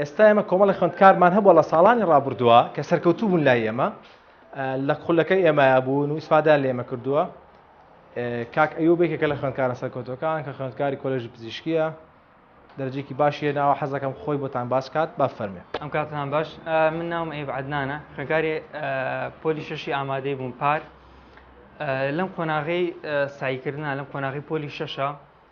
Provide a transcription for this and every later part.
ئێستا ئێمە کۆمەڵی خوێندکارمان هەبووە لە ساڵانی ڕابردووە کە سەرکەوتوو بوون لای ئێمە لە خولەکەی ئێمەە بوون و ئیسفادا لێمە کردووە کاک ئەو بێکێکە لە خوێندکارە سەرکەوتەکان کە خوێندکاری کۆلژی پزیشکیە دەرجێکی باشیە ناوە حەزەکەم خۆی بۆتان باس کات با فەرمێ ئەم کاتان باش من ناوم ئەی عدنانە خوێنکاری پۆلی شەشی ئامادەی بووم پار لەم قۆناغی سایکردنا لەم قۆناغی پۆلی شەشە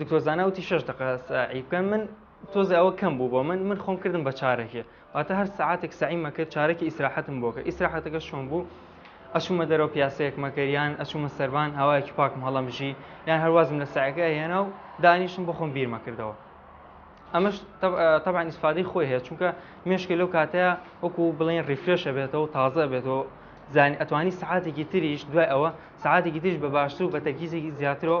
دکتۆر زانا وتی شەش دقە سەعی بکەن من تۆزێ ئەوە کەم بوو بۆ من من خۆم کردم بە چارەکێ واتە هەر سعاتێک سعیمە کرد چارەکی ئیسراحەتم بۆکە ئیسراحەتەکە شۆن بوو ئەچوومە دەرەوە پیاسەیەک مەکەریان ئەچوومە سەربان هاوایەکی پاکم هەڵەمژی یان هەروازم لە سعەکە هێنا و دانیشتم بۆ خۆم بیرمەکردەوە ئەمەش تەبان ئیسفادی خۆی هەیە چونکە مێشکی لەو کاتەیە وەکو بڵێن ریفرێشە بێتەوە تازە بێتەوە زانانی ئەتوانی سعاتێکی تریش دوای ئەوە سعاتێکی تریش بە باشتر و بە تەرکیزێکی زیاترەوە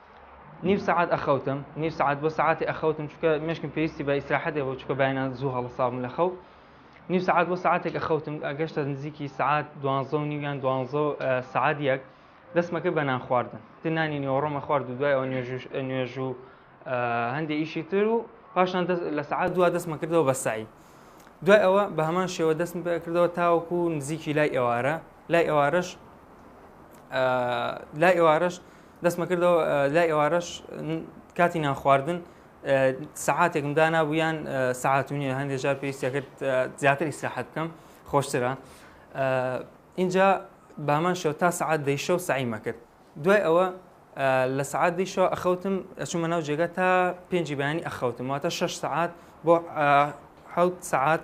نیو سەعات ئەخەوتم نیو سەعات بۆ سەعاتی ئەخەوتم چکە مشکم پێویستی بە ئیسراحەتێ بۆ چکە باینا زوو هەڵساوم لە خەو نیو سەعات بۆ ساعتێک ئەخەوتم ئەگەشتە نزیکی سعات دوانزە و نیویان دوانزە سعات یەک دەستمەکە بە نان خواردن دنانی نیۆڕۆمە خوارد و دوای ئەو نوێژ و هەندێک ئیشی تر و پاشان لە سعات دو دەستمە کردەوە بە سعی دوای ئەوە بە هەمان شێوە دەستم کردەوە تاوەکو نزیکی لای ئێوارە لای ئێوارەش لای ئێوارەش دەستمە کردەوە لای ئێوارەش کاتی نانخواردن سەعاتێکم دانابوو یان سەعات و نیە هەندێک جار پێویستە کرد زیاتر ئیسراحەت بکەم خۆشترە اینجا بامان شەو تا سەعات دەیشە و سعیمە کرد دوای ئەوە لە سعات دیشەوە ئەخەوتم ئەچوومە ناو جێگە تا پێنجی بەیانی ئەخەوتم واتە شش سعات بۆ حوت سعات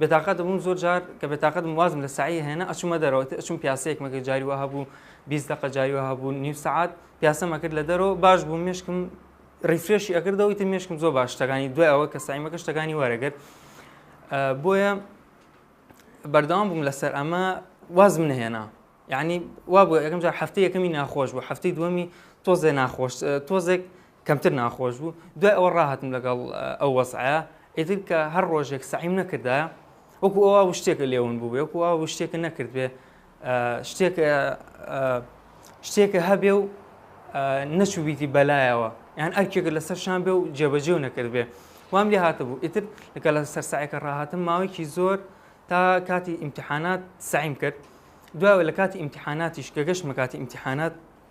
بێتاقەت بووم زۆر جار کە بێتاقەت بووم وازم لە سەعی ئەهێنا ئەچوومە دەرەوە ئیتر ئەچووم پیاسەیەکم ئەکرد جاری وا هەبوو بیست دەقە جاری وا هەبوو نیو سەعات پیاسەم ئەکرد لە دەرەوە باش بووم مێشکم ریفرێشی ئەکردەوە ئیتر مێشکم زۆر باش شتەکانی دوای ئەوە کە سایمەکە شتەکانی وەرەگرت بۆیە بەردەوام بووم لەسەر ئەمە وازم نەهێنا یعنی وا بوو یەکەم جار هەفتەی یەکەمی ناخۆش بوو هەفتەی دووەمی تۆزێ ناخۆش تۆزێک کەمتر ناخۆش بوو، دوای ئەوە ڕاهاتم لەگەڵ ئەو وەزعە، ئیتر کە هەر ڕۆژێک سەعیم نەکردایە وەکو ئەو وا شتێکە لێون بووبێ وەکو وا شتێکە نەکردبێ شتێک شتێکە هەبێ و نەچوویتی بەلایەوە یان ئەرکێکە لەسەر شان بێ و جێبەجێ و نەکرد بێ وام لێ هاتە بوو ئیتر لەگە لە سەرسایەکە ڕاهاتم ماوەیەکی زۆر تا کاتی ئیمتحانات سعیم کرد دوای لە کاتی ئیمتحاناتیش کە گەشتمە کاتی ئیمتحانات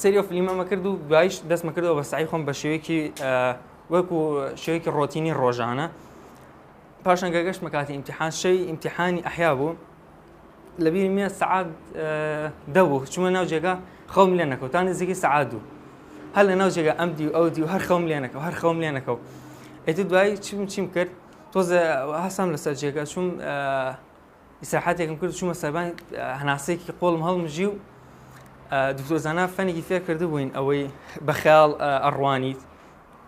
سەیری ئەو فلیمەمە کرد و دوایش دەستمە کردەوە بە سعی خۆم بە شێوەیەکی وەکو شێوەیەکی ڕۆتینی ڕۆژانە پاشان گەگەشتمە کاتی ئیمتحان شەوی ئیمتحانی ئەحیا بوو لەبیری مێ سعات دەبوو چوومە ناو جێگا خەوم لێ نەکەوتان نزیکی سعات دوو هەر لە ناو جێگا ئەم دی و ئەو دی و هەر خەوم لێ نەکەم هەر خەوم لێ نەکەم ئەتو دوایی چیم چیم کرد تۆزە هەسام لەسەر جێگا چوم ئیسراحەتێکم کرد چوومە سەربان هەناسەیەکی قۆڵم هەڵمژی و دکتۆر زانا فەنێکی فێر کردبووین ئەوەی بە خەیاڵ ئەڕوانیت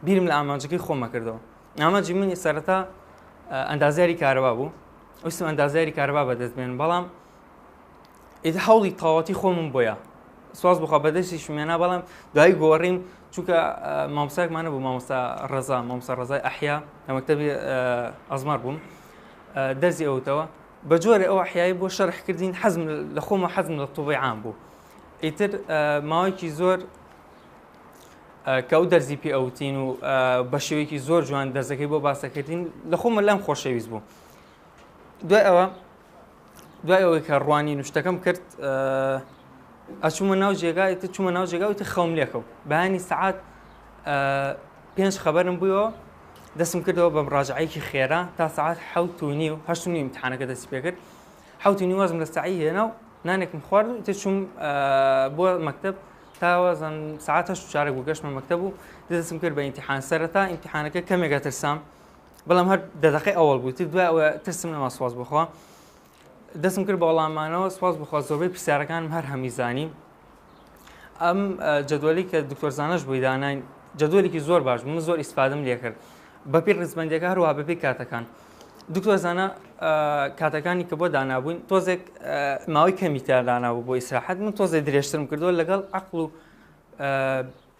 بیرم لە ئامانجەکەی خۆمە کردەوە ئامانجی منی سەرەتا ئەندازیاری کارەبا بوو ویستم ئەندازیاری کارەبا بەدەست بێن بەڵام ئیدە هەوڵی تەواتی خۆمم بۆیە سواز بخوا بەدەستی شمێنا بەڵام دوای گۆڕیم چونکە مامۆساکمانە بوو مامۆستا ڕزا مامۆستا ڕزای ئەحیا لە مەکتتەبی ئەزمار بووم دەرزی ئەوتەوە بە جۆرە ئەو حیایی بۆ شەرح کردین حەزم لە خۆمە حەزم لە طوبیعان بوو ئیتر ماوەیەکی زۆر کە ئەو دەرزی پێ ئەوتین و بە شێوەیەکی زۆر جوان دەرزەکەی بۆ باسەکردین لە خۆمە لەم خۆشەویست بوو دوای ئەوە دوای ئەوەی کە ڕوانی نوشتەکەم کرد ئەچوومە ناو جێگایتە چوومە ناو جێگاوتی خەوم لێکەوت بەیانی سعات پێنج خەبەرم بویەوە دەستم کردەوە بە مڕاجعەیەکی خێرا تا سعات حەوت و نیو هەشت و نیو امتحانەکە دەستی پێکرد حەوت و نیو وازم لە سعی هێنا و نانێکم خوارد و تێ چووم بۆ مەکتب تاوازم سعات هەشت و چارەک بوو گەشتمە مەکتب و دەستم کرد بە ئیمتحان سەرەتا ئیمتحانەکە کەمێکە ترسام بەڵام هەر دەدەقی ئەوەڵ بوو تر دوای ئەوە ترسم نەما سواز بخوا دەستم کرد بە وەڵامانەوە سپاس بخوا زۆربەی پرسیارەکانم هەر هەمی زانی ئەم جدولی کە دکتۆر زانش بووی دانای جدولێکی زۆر باش من زۆر ئیسپادم لێ کرد بەپی ڕزبندەکە هەروە بەپی کاتەکان دکتۆر زانە کاتەکانی کە بۆ دانابووین تۆزێک ماوەی کەمی تا دانابوو بۆ ئیسراحەت من تۆزێ درێژترم کردووە لەگەڵ عقل و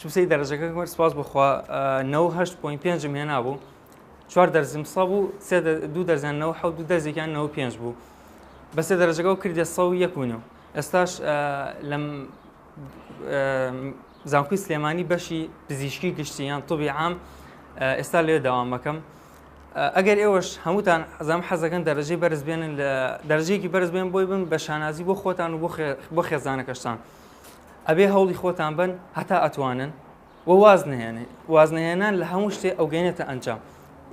چوسەی دەرەجەکەم کرد سپاس بۆ خوا نەوە هەشت پۆین پێنجم هێنابوو چوار دەرزم سە بوو سێ دوو دەرزیان نەوە حەوت دوو دەرزێکیان نەوە پێنج بوو بەسێ دەرەجەکە و کردێ سە و یەک ونێ و ئێستاش لەم زانکوی سلێمانی بەشی پزیشکی گشتی یان طبی عام ئێستا لێ داوامەکەم ئەگەر ئێوەش هەمووتان ئەزام حەزەکەن دەرەجەی بەرز بێنن لە دەرجێکی بەرز بێن بۆی بن بە شانازی بۆ خۆتان و بۆ خێزانەکەشتان. ئەبێ هەوڵی خۆتان بەن هەتا ئەتوانن و واز نهێنێ واز نهێنان لە هەموو شتێ ئەو گەێنێتە ئەنجام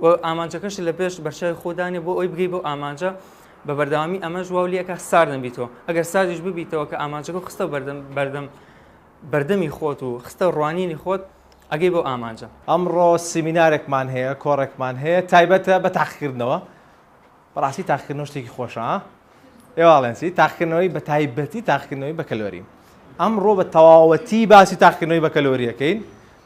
و ئامانجەکەش لە پێش بەرچاوی خۆدانێ بۆ ئەوی بگەی بۆ ئامانجە بە بەردەوامی ئەمە ژواو لەکە ساردن بیتەوە ئەگەر سازیش ببیتەوە کە ئامانجەکە خستە بەردەم بەردەم بەردەمی خۆت و خستە ڕوانینی خۆت ئەگەی بۆ ئامانجە ئەمڕۆ سیمینارێکمان هەیە کۆڕێکمان هەیە تایبەتە بە تاقیکردنەوە بەڕاستی تاقیکردنەوە شتێکی خۆشە ها ئێواڵێن چی تاقیکردنەوەی بە تایبەتی تاقیکردنەوەی بە کەلۆری ئەمڕۆ بە تەواوەتی باسی تاقیکردنەوەی بە کەلۆریەکەین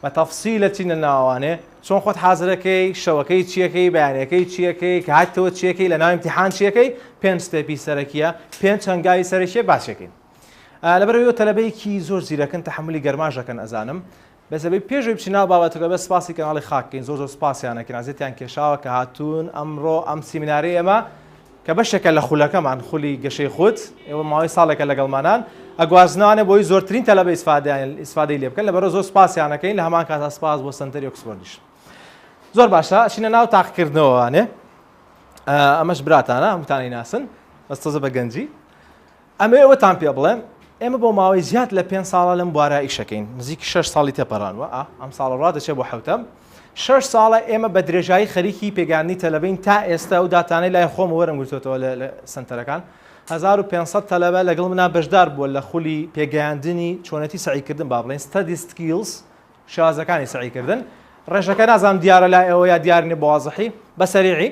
بە تەفسیلە چینە ناوانێ چۆن خۆت حازرەکەی شەوەکەی چیەکەی بەیانەکەی چیەکەی کە هاتەوە چیەکەی لە ناوی امتحان چیەکەی پێنج ستێپی سەرەکیە پێنج هەنگاوی سەرەکیە باسیەکەین لەبەرەوەی تەلەبەیەکی زۆر زیرەکن تحملی گەرماژەکەن ئەزانم بەس ئەبێ پێش ئەوەی بچی ناو بابەتەکە بەس سپاسی کەناڵی خاک کەین زۆر زۆر سپاسیان ئەکەین ئەزێتیان کێشاوە کە هاتوون ئەمڕۆ ئەم سیمینارەی ئێمە کە بەشێکە لە خولەکەمان خولی گەشەی خود ئێوە ماوەی ساڵێکە لەگەڵمانان ئەگوازنانە بۆی زۆرترین تەلەبە ئیسفادەیان ئیسفادەی لێ بکەن لەبەرە زۆر سپاسیان ئەکەین لە هەمان کاتا سپاس بۆ سەنتەری ئۆکسفۆردیش زۆر باشە شینە ناو تاقکردنەوەوانێ ئەمەش براتانە هەمووتانی ناسن بەس تۆزە بە گەنجی ئەمەوێ ئەوەتان پێ بڵێم ئێمە بۆ ماوەی زیاد لە پێنج ساڵە لەم بوارە ئیشەکەین نزیکی شەش ساڵی تێپەڕانوە ئا ئەم ساڵە ڕادەچێ بۆ حەوتەم شەش ساڵە ئێمە بە درێژایی خەریکی پێگەیاندنی تەلەبەین تا ئێستا و داتانەی لای خۆم وەرم گرتوتەوە لە سنتەرەکان 1500 تەلەبە لەگەڵ منا بەشدار بووە لە خولی پێگەیاندنی چۆنێتی سەعیکردن با بڵێن ستادی سکیلز شازەکانی سەعی کردن ڕێژەکە نازانم دیارە لای ئێوە یا دیار نیە بەوازحی بە سەریعی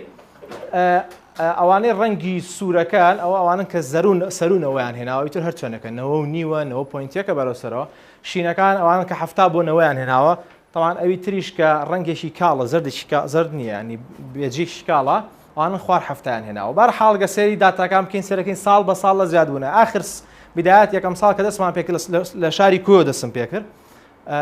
ئەوانەی ڕەنگی سوورەکان ئەو ئەوانن کە زەرون سەرو نەوەیان هێناوە ئیتر هەر چۆنەکە نەوە و نیوە نەوە پوینتێکە بەرەو سەرەوە شینەکان ئەوانن کە هەفتا بۆ نەوەیان هێناوە تەوان ئەوی تریش کە ڕەنگێکی کاڵە زەردێکی کا- زەرد نییە ینی بێجێکی کاڵە ئەوانن خوار هەفتایان هێناوە بەر حاڵ گە سەیری داتاکان بکەین سەرەکەین ساڵ بە ساڵ لە زیاد بوونە ئاخر س- بدایەت یەکەم ساڵ کە دەستمان پێ کرد لە س- لە شاری کۆیە دەستم پێ کرد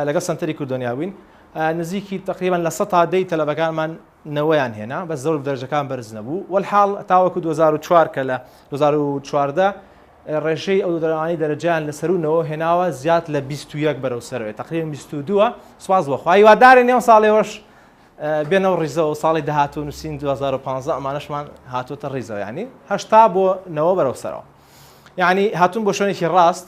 لەگەڵ سەنتەری کوردۆنیا بووین نزیکی تقریبان لە سەتا دەی تەلەبەکانمان نەوەیان هێنا بە زۆر دەرجەکان بەرز نەبوو وەحاڵ تاوەکو 2004 کە لە 2014 ڕێژەی ئەو دەرانی دەرەجیان لە سەرونەوە هێناوە زیاد لە 21 بەرەو سەرەوەی تقریبا 22 سواز بەخوای وادارێن نێو ساڵێوەش بێنەوە ڕیزەوە ساڵی داهات و نووسین 2015 ئەمانشمان هاتوتە ڕیزەوە ینی هەشتا بۆ نەوە بەرەو سەرەوە یعنی هاتون بۆ شوێنێکی ڕاست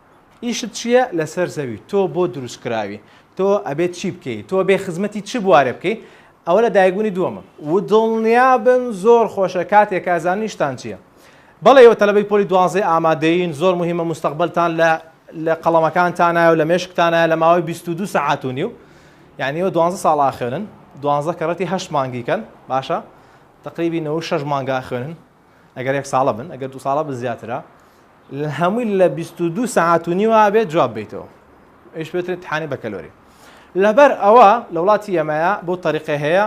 ئیشت چیە لەسەر زەوی تۆ بۆ دروست کراوی تۆ ئەبێت چی بکەی تۆ بێ خزمەتی چ بوارێ بکەی ئەوە لە دایکبونی دووەمم ودڵنیابن زۆر خۆشە کاتێ کا زانن ئیشتان چیە بەڵێ ئێوە تەلەبەی پۆلی دوانزەی ئامادەین زۆر موهیمە موستەقبەلتان لە لە قەڵەمەکانتانایەو لە مێشکتانایە لە ماوەی بیست و دوو سەعات و نیو یانی ئێوە دوانزە ساڵ ئاخوێنن دوانزە کەڕەتی هەشت مانگیکەن باشە تەقریبی نەوەو شەش مانگا ئەخوێنن ئەگەر یەک ساڵە بن ئەگەر دو ساڵە بە زیاترە هەمووی لە بیست و دوو سەعات و نیوە بێت جواب بیتەوە ئەوش بێترێت امتحانی بەکەلۆری لەبەر ئەوە لە وڵاتی ئێمەیە بۆ تەریقە هەیە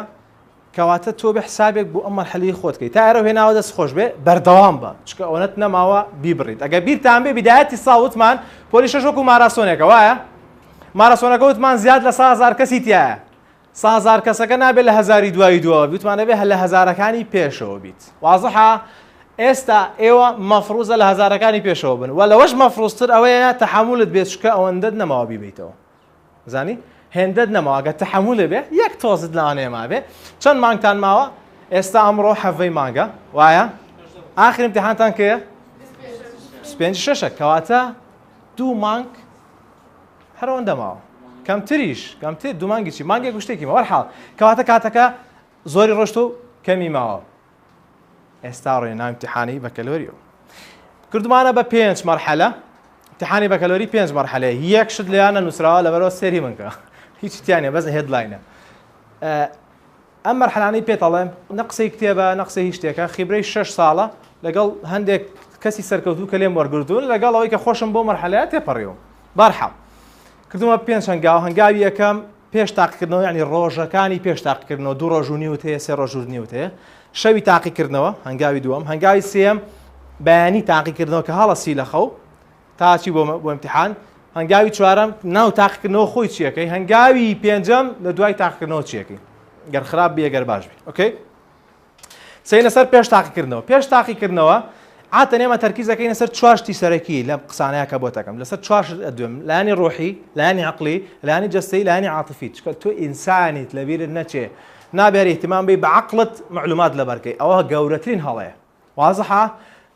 کەواتە تۆ بە حسابێک بۆ ئەم مەرحەلی خۆت کەی تا ئێرە هێناوە دەست خۆش بێ بەردەوام بە چکە ئەوەت نەماوە بیبڕیت ئەگە بیرتان بێ بدایەتی ساوتمان پۆلی شەشۆک و ماراسۆنێکە وایە ماراسۆنەکە وتمان زیاد لە سازار کەسی تایە سازار کەسەکە نابێت لە هەزاری دوایی دواوە بیت وتمان دەبێت لە هەزارەکانی پێشەوە بیت وازحە ئێستا ئێوە مەفروزە لە هەزارەکانی پێشەوە بن و لەوەش مەفروزتر ئەوەیە تەحملت بێت چکە ئەوەندەت نەماوە بیبیتەوە زانی هێندەت نەماوە گە تەحملێ بێ یەک تۆزت لەوانەیە مابێ چەند مانگتان ماوە ئێستا ئەمڕۆ حەڤەی مانگە وایە ئاخر امتحانتان کەیە پێنج شەشە کەواتە دوو مانگ هەر ئەوەندە ماوە کەمتریش کەمتر دوو مانگی چی مانگێک گشتێکی مەوە حاڵ کەواتە کاتەکە زۆری ڕۆشت و کەمی ماوە ئێستا ڕێ نامتیحانی بەکەلۆریەوە کردمانە بە پێنج مەرحەلە تحانی بەکەلۆری پێنج مەرحەلەیە یەک شت لەیانە نووسراوە لەبەرەوە سێری منکە هیچ تیانە بەس هێدلاینە ئەم مەرحەلانەی پێت ئەڵێم نە قسەی کتێبە نە قسەی هیچ شتێکە، خیبرەی شەش ساڵە لەگەڵ هەندێک کەسی سەرکەوتوو کە لێم وەرگرتوون، لەگەڵ ئەوەی کە خۆشم بەو مەرحەلەیە تێپەڕیوم. بەهەرحاڵ کردوومە پێنج هەنگاو، هەنگاوی یەکەم پێش تاقیکردنەوە یانی ڕۆژەکانی پێش تاقیکردنەوە، دوو ڕۆژ و نیوت هەیە، سێ ڕۆژ و نیوت هەیە، شەوی تاقیکردنەوە، هەنگاوی دووەم، هەنگاوی سێیەم بەیانی تاقیکردنەوە کە هەڵەسی لە خەو، تا ئەچی بۆ بۆ امتحان هەنگاوی چوارەم ناو تاقیکردنەوە خۆی چیەکەی هەنگاوی پێنجەم لە دوای تاقیکردنەوە چیەکەی گەر خراپ بێ گەر باش بێ ئۆکەی سینە سەر پێش تاقیکردنەوە پێش تاقیکردنەوە عاتە نێمە تەرکیزەکەی لەسەر چواشتی سەرەکی لە قسانەیە کە بۆ تەکەم لەسەر چواش دوێم لانی ڕۆحی لانی عقلی لانی جەستەی لانی عاتفی چکە تۆ ئینسانیت لەبیرت نەچێ نابێری احتمام بی بە عقلت معلومات لەبەرکەی ئەوە گەورەترین هەڵەیە وازحە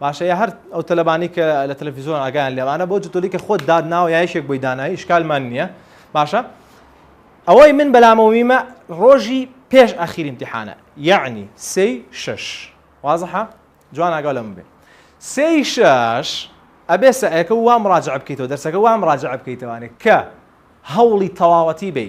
باشە یا هەر ئەو تەلەبانی کە لە تەلەفیزۆن ئاگایان لێ ئەوانە بۆ جتۆلی کە خۆت دات ناوە یا یەکێک بۆی داناوی ئیشکالمان نییە باشە ئەوەی من بەلامەوە میمە ڕۆژی پێش ئەخیر امتحانە یعنی سێ شش وازحە جوان ئاگا لەم بێ سێ شش ئەبێ سەعەکە وام ڕاجع بکەیتەوە دەرسەکە وام ڕاجع بکەیتەوانێ کە هەوڵی تەواوەتی بی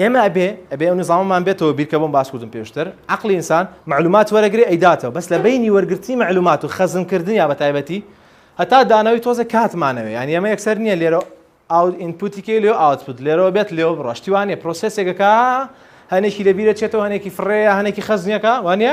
ئێمە ئەبێ ئەبێ ئەو نظامەمان بێتەوە بیر کە بۆم باس کردم پێشتر عقلی ئینسان معلومات وەرەگرێ ئەیداتەوە بەس لە بینی وەرگرتنی معلومات و خەزنکردن یا بە تایبەتی هەتا دانەوەی تۆزە کاتمانەوە یان ئێمە یەکسەر نییە لێرە ئاو ئینپوتیکەی لێ ئاوتپوت لێرەوە بێت لێو بڕۆشتیوانێ پرۆسسێکەکە هەنێکی لەبیرە چێتەوە هەنێکی فڕێە هەنێکی خەزنیەکە وانە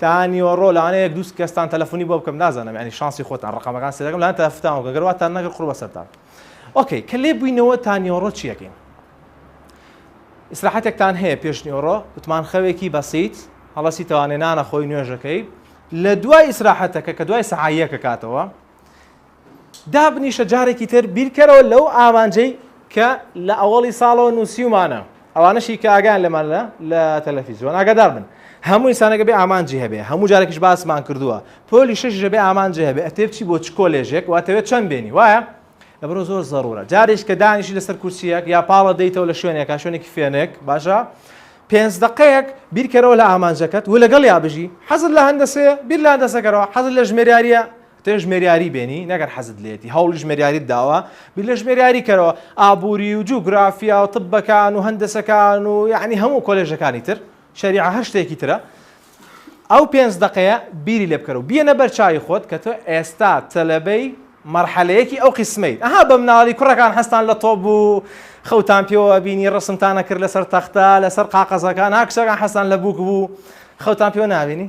تا نیوەڕۆ لانە یەک دوو کەستان تەلەفونی بۆ بکەم نازانم ینی شانسی خۆتان ڕقەمەکان سێدەکەم لان تەفتان وکە گەر واتان نەگر قڕ بەسەرتان ئۆکەی کە لێ بووینەوە تا نیوەڕۆ چیەکەین ئیسراحەتێکتان هەیە پێش نیوەڕۆ وتمان خەوێکی بەسییت هەڵەسی تەوانێنانە خۆی نوێژەکەی لە دوای ئیسراحەتەکە کە دوای سەعاییەکە کاتەوە دابنیشە جارێکی تر بیرکەرەوە لەو ئامانجەی کە لە ئەوەڵی ساڵەوە نووسیومانە ئەوانەشی کە ئاگان لەمان لە لە تەلەفیزیۆن ئاگادار بن هەموو ئسانەکە بێ ئامانجی هەبێ هەموو جارێکش باسمان کردووە پۆلی شش ژەبێ ئامانجی هەبێ ئەتێ بچی بۆ چ کۆلێژێک واتەوێت چەند بێنی وایە لەبرۆ زۆر زەڕورە جاریش کە دانیشی لەسەر کورسیەک یا پاڵە دەیتەوە لە شوێنێک کا شوێنێکی فێنێک باشە پێنج دقەیەک بیرکەرەوە لە ئامانجەکەت و لەگەڵ یا بژی حەزت لە هەندەسێ بیر لە هەندەسەکەەوە حەزت لە ژمێریاریە تۆ ژمێریاری بێنی نەگەر حەزت لێیەتی هەوڵی ژمێریاریت داوە بیر لە ژمێریاری کەرەوە ئابووری و جوگرافیا و طبەکان و هەندەسەکان و یەعنی هەموو کۆلێژەکانی تر شەریعە هەر شتێکی ترە ئەو پێنج دەقەیە بیری لێ بکەرەوە بیەنە بەر چاوی خۆت کە تۆ ئێستا تەلەبەی مەرحەلەیەکی ئەو قسمەیت ئەها بە مناڵی کوڕەکان هەستان لە تۆپ بوو خەوتان پێوە بینی ڕسمتانە کرد لەسەر تەختە لەسەر قاقەزەکان ها کچەکان حەستان لە بووک بوو خەوتان پێوە ناوینی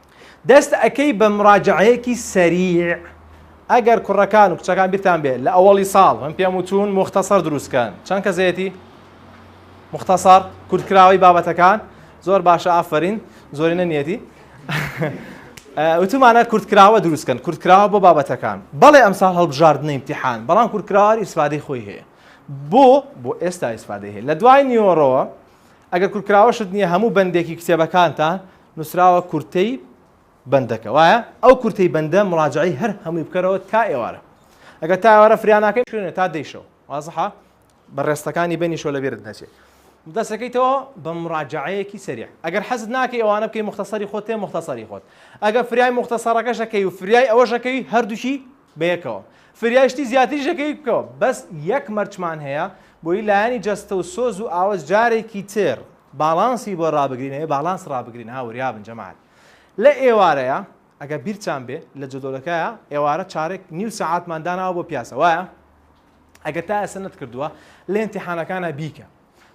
دەست ئەکەی بە مراجعەیەکی سەریع. ئەگەر کوڕەکان و کچەکان بیرتان بێ لە ئەوەڵی ساڵ من پێم وتون موختەسەر دروست کەن چەند کەسێتی مختەسەر کورتکراوەی بابەتەکان زۆر باشە ئافرین زۆرینە نیەتی وتمانە کورتکراوە دروست کەن کورتکراوە بۆ بابەتەکان بەڵێ ئەمساڵ هەڵبژاردنە امتحان بەڵام کورتکراوار ئیسفادەی خۆی هەیە بۆ بۆ ئێستا ئیسفادەی هەیە لە دوای نیۆڕەوە ئەگەر کورتکراوەشت نییە هەموو بەندێکی کتێبەکانتان نوسراوە کورتەی بەندەکە وایە ئەو کورتەی بەندە مراجعەی هەر هەمووی بکەرەوە تا ئێوارە ئەگەر تا ئێوارە فریا ناکەی خوێنە تا دەی شەو وازحە بە ڕێستەکانی بینی شۆ لە بێرت نەچێ دەسەکەیتەوە بە مراجعەیەکی سەریع ئەگەر حەزت ناکەی ئەوانە بکەی مختصری خۆت تێ مختصری خۆت ئەگەر فریای مختصرەکەشەکەی و فریای ئەوەشەکەی هەردووکی بەیەکەوە فریای شتی زیاتریش ئەکەی بکەوە بەس یەک مەرچمان هەیە بۆی لایەنی جەستە و سۆز و ئاوەز جارێکی تر باڵانسی بۆ ڕابگرین ئەوێ باڵانس ڕابگرین ها وریابن جەماعەت لە ئێوارەیە ئەگە بیرتان بێ لە جەدۆلەکەیە ئێوارە چارێک نیو سەعاتمان داناوە بۆ پیاسە وایە ئەگە تا ئێستا نەتکردووە لە ئیمتیحانەکانە بیکە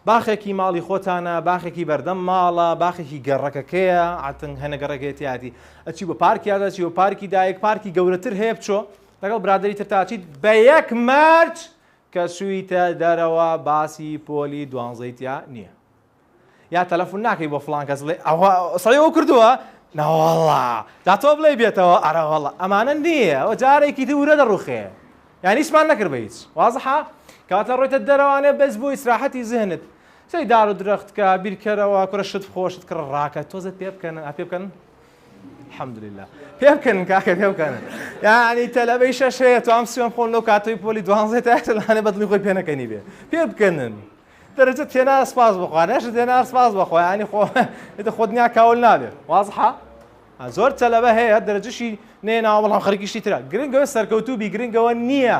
باخێکی ماڵی خۆتانە، باخێکی بەردەم ماڵە، باخێکی گەڕەکەکەیە، عەتنگ هەنە گەڕەکەیە تیاتی، ئەچی بۆ پارکی ئازاد، ئەچی بۆ پارکی دایک، پارکی گەورەتر هەیە بچۆ لەگەڵ برادەری ترت ئەچیت بە یەک مەرج کە چوویتە دەرەوە باسی پۆلی دوانزەی تیا نییە یا تەلەفون ناکەی بۆ فڵان کەس بڵێ ئەوە سەی ئەو کردووە ناوەڵا دا تۆ بڵێ بێتەوە ئەرەوەڵا ئەمانە نییە ئەوە جارێکی دی ورە دەڕوخێ یانی هیچمان نەکرد بە هیچ وازحە کات ئەڕۆیتە دەرەوانێ بەس بۆ ئیسراحەتی زهنت سەیری دار و درەخت کە بیرکەرەوە کورە شت بخۆ شت کڕ ڕاکە تۆزێ پێ بکەنن ئا پێ بکەن الحمد لله پێ بکەنن کاکە پێ بکەنن یانی تەلەبەی شەش هەیە تو ئەم سوێن خۆن لەو کاتەوەی پۆلی دوانزەی تاکتلانێ بەدڵی خۆی پێ نەکەنی بێ پێ بکەنن دەرەجە تێنا سپاس بخوا نەشت تێنا سپاس بخوا ینی خۆ دە خۆ دنیا کاول نابێ وازحە زۆر تەلەبە هەیە هەر دەرەجەشی نەهێناوە بەڵام خەریکی شتی ترە گرنگ ئەوەیە سەرکەوتوو بی گرنگ ئەوە نییە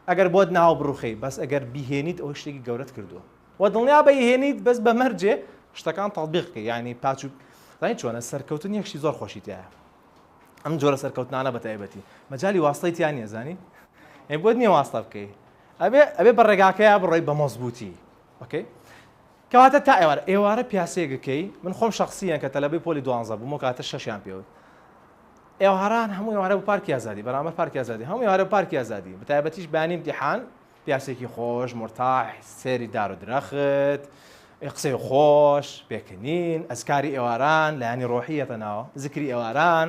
ئەگەر بۆت ناوە بڕوخێی بەس ئەگەر بیهێنیت ئەوە شتێکی گەورەت کردووە و دڵنیابە ئیهێنیت بەس بە مەرجێ شتەکان تەطبیق بکەی یانی پاچ و زانیت چۆنە سەرکەوتن یەک شتی زۆر خۆشی تیایە ئەم جۆرە سەرکەوتنانە بە تایبەتی مەجالی واستەی تیا نییە زانی ئەی بۆت نییە واستە بکەی ئەبێ ئەبێ بە ڕێگاکەیە بڕۆی بە مەزبووتی ئۆکەی کەواتە تا ئێوارە ئێوارە پیاسەیەک ئەکەی من خۆم شەخسیەن کە تەلەبەی پۆلی دوانزە بووم ئەو کاتە شەشیان پێ وت ئێواران هەموو ئێوارە بۆ پارکی ئازادی بەرامبەر پارکی ئازادی هەموو ئێوارە پارکی ئازادی بە تایبەتیش بەیانی ئیمتیحان پیاسێکی خۆش مورتاح سێری دار و درەخت قسەی خۆش پێکەنین ئەزکاری ئێواران لایەنی ڕۆحیەتە ناوە زکری ئێواران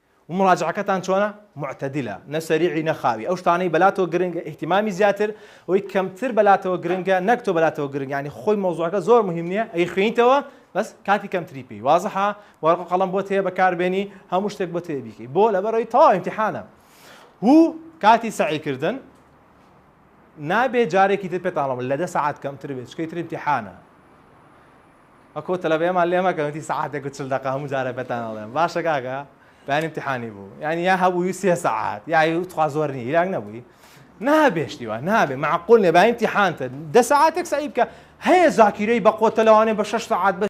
و مراجعەکەتان چۆنە؟ معتدلە نە سەریعی نە خاوی ئەو شتانەی بەلاتۆ گرنگە اهتمامی زیاتر ئەوەی کەمتر بەلاتەوە گرنگە نەک تۆ بەلاتەوە گرنگ یانی خۆی مەوزوعەکە زۆر مهم نیە ئەیخوێنیتەوە بەس کاتی کەمتری پێی وازحە وەرەق و قەڵەم بۆت هەیە بەکاربێنی هەموو شتێک بۆت هەیە بیکەی بۆ لەبەرەوەی تەواو امتحانە و کاتی سەعی کردن نابێ جارێکی تر پێتان ڵەم لە دە سەعات کەمتر بێت چکەی تر امتحانە ئەکۆ تەلەبەیەمان لێ مەکەن وتی سەعاتێک و چل دەقە هەموو جارە بەتان ئەڵێم باشە کاکە بەیانی امتحانی بوو یانی یا هەبووی سێ سەعات یای تخوا زۆر نی یراک نەبووی نابێ شتی وا نابێ معقول نێ بەیانی امتحانتە دە سەعاتێک سەعی بکە هەیە زاکیرەی بە قۆتە لەوانێ بە شەش سەعات بە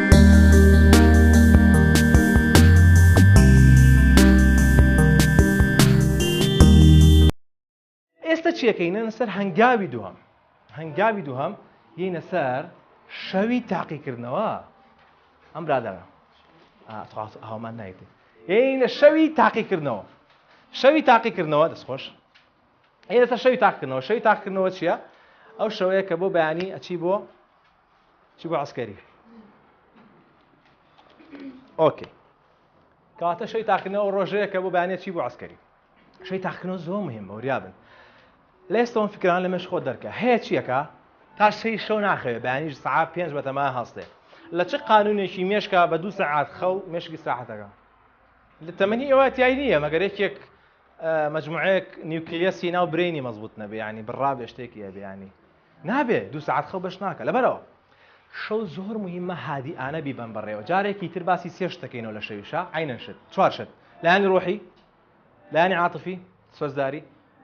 ئێستا چیەکەینە سەر هەنگاوی دووەم هەنگاوی دووهم یینە سەر شەوی تاقیکردنەوە ئەم برادەرە هامان نایتی یینە شەوی تاقیکردنەوە شەوی تاقیکردنەوە دەستخۆش ئێستا شەوی تاقکردنەوە شەوی تاقکردنەوە چییە ئەو شەوەیە کە بۆ بەیانی ئەچی بۆ چی بۆ عسکەری ئۆکەی کاتە شەی تاقنەوە ڕۆژەیە کە بۆ بانێ چی بۆ عسکەری شەی تاقنەوە زۆر مهم بەوریابن لە ئێستەوە فکران لە مەش خۆ دەرکە هەیە چیەکە تا شەی شەو ناخەوێ بەیانیش سعات پێنج بەتەما هەستێ لە چ قانونێکی مێشکا بە دوو سەعات خەو مێشکی ساحەتەکە لە تەمەنی ئێوە تای نییە مەگەر یەکێک مجموعەیەک نیوکلیەسی ناو برینی مەزبوط نەبێ ینی بڕا بێشتێکی هەبێ ینی نابێ دوو سەعات خەو بەش ناکە لەبەرئەوە شەو زۆر موهیمە هادیئانە بیبەن بەڕێوە جارێکی تر باسی سێ شت دەکەینەوە لە شەویشا عەینەن شت چوار شت لایەنی ڕۆحی لایەنی عاتفی سۆزداری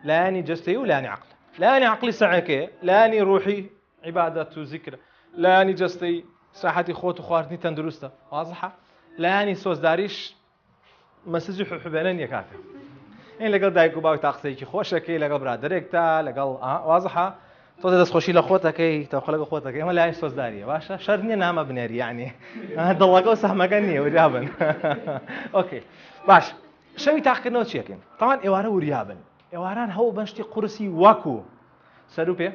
لایەنی جەستەیی و لایەنی عەقل لایەنی عەقلی سەعەکەیە لایەنی ڕۆحی عیبادەت و زیکرە لایەنی جەستەیی ساحەتی خۆت و خواردنی تەندروستە وازحە لایەنی سۆزداریش مەسجی حبێنە نیە کاکە این لەگەڵ دایک و باوکتا قسەیەکی خۆشەکەی لەگەڵ برادێکتا لەگەڵ وازحە تۆ دەستخۆشی لە خۆتەکەی تەخۆ لەگە خۆتەکەی ئەمە لای سۆزداریە باشە شەر نیە نامە بنێری یعنی دڵەکە و سەحمەکە نیە وریابن ئۆکەی باش شەوی تاقکردنەوە چیەکەین تاوان ئێوارە وریابن ئێواران هەوڵ بەشتی قورسی وەکو سەرو پێ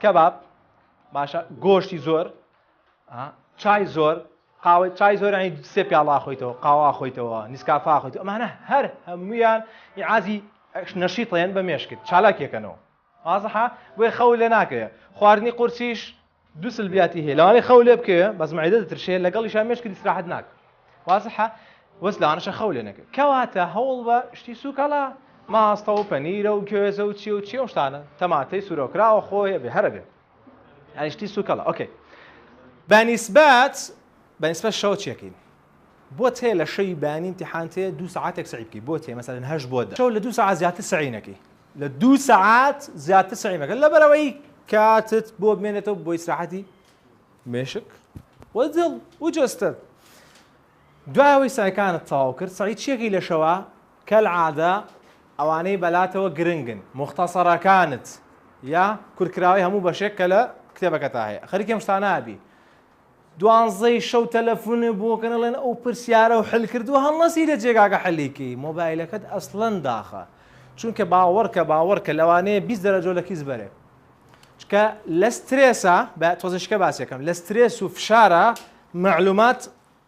کەباب باشە گۆشتی زۆر چای زۆر قاوەی چای زۆر یانی سێ پیاڵە ئاخۆیتەوە قاوە ئاخۆیتەوە نیسکافە ئاخۆیتەوە ئەمانە هەر هەموویان ئیعازی نەشیطەیەن بە مێشکت چالاکیەکەنەوە وازحە بۆیە خەو لێ ناکەوێ خواردنی قورسیش دوو سلبیاتی هەیە لەوانەیە خەو لێ بکەوێ بەس معدە دەترشێ لەگەڵیشا مێشکت استراحەت ناکە وازحە وەس لەوانەشە خەو لێ نەکە کەواتە هەوڵ بە شتی سووکەڵە ماستە و پەنیرە و گوێزە و چی و چی و شتانە تەماتەی سوورەوکراوە خۆیە بێ هەرە بێ یعنی شتی سوکەڵە ئۆکەی بەنیسبەت بەنیسبەت شەو چێکین بۆ تێ لە شەوی بانی امتحان تێ دو ساعتێک سعی بکەی بۆ تێ مەسەرن هەش بۆ دە شەو لە دو ساعت زیاتر سعی نەکەی لە دو ساعت زیاتر سعی مەکە لەبەرەوەی کاتت بۆ بمێنێتەوە بۆ ئیسراحەتی مێشک و دڵ و جەستەت دوایەوەی سعیەکانت تەواو کرد سعی چیەکەی لە شەوە کەلعادە ئەوانەی بەلاتەوە گرنگن موختەسەرەکانت یا کورتکراوەی هەموو بەشێک کە لە کتێبەکەتا هەیە خەریکی ئەم شتانە ئەبی دوانزەی شەو تەلەفونێ بۆ کەن ئەڵێن ئەو پرسیارە و حل کردووە هەڵنەسی لە جێگاکە حلی کەی مۆبایلەکەت ئەسڵەن داخە چونکە باوەڕکە باوەڕکە لەوانەیە بیست دەرەجۆ لە کیس بەرێ چکە لە سترێسە بە تۆزیشکە باسیەکەم لە سترێس و فشارە معلومات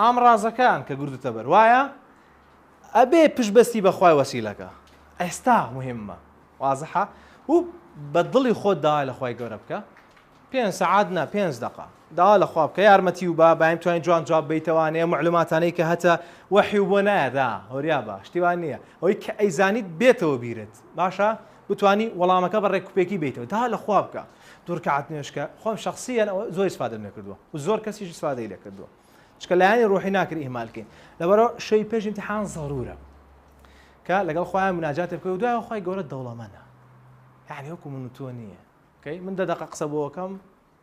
ئامڕازەکان کە گردتە بەر وایە ئەبێ پشت بەستی بە خوای وەسیلەکە ئێستا مهمە وازحە و بە دڵی خۆت داوا لە خوای گەورە بکە پێنج سەعات نا پێنج دەقە داوا لە خوا بکە یارمەتی و با بایم توانین جوان جواب بیتەوانەیە معلوماتانەی کە هەتە وەحی و بۆ نایەدا هۆریا بە شتیوان نییە ئەوەی کە ئەیزانیت بێتەوە بیرت باشە بتانی وەڵامەکە بە ڕێککوپێکی بیتەوە دا لە خوا بکە دوورکەعات نوێشکە خۆم شخصیان ئەوە زۆر سپادەم لێ کردووە و زۆر کەسیش سپادەی لێ کردووە چکە لایانی ڕۆحی ناکرێت ئیهمال کەین لەبەرە شەوی پێش امتحان ضرورە کە لەگەڵ خۆیان مناجات بکە و دوای خۆی گەورە دەوڵەمەە یعنی وەکو من تۆ نییە کەی من دەدەقە قسە بۆکەم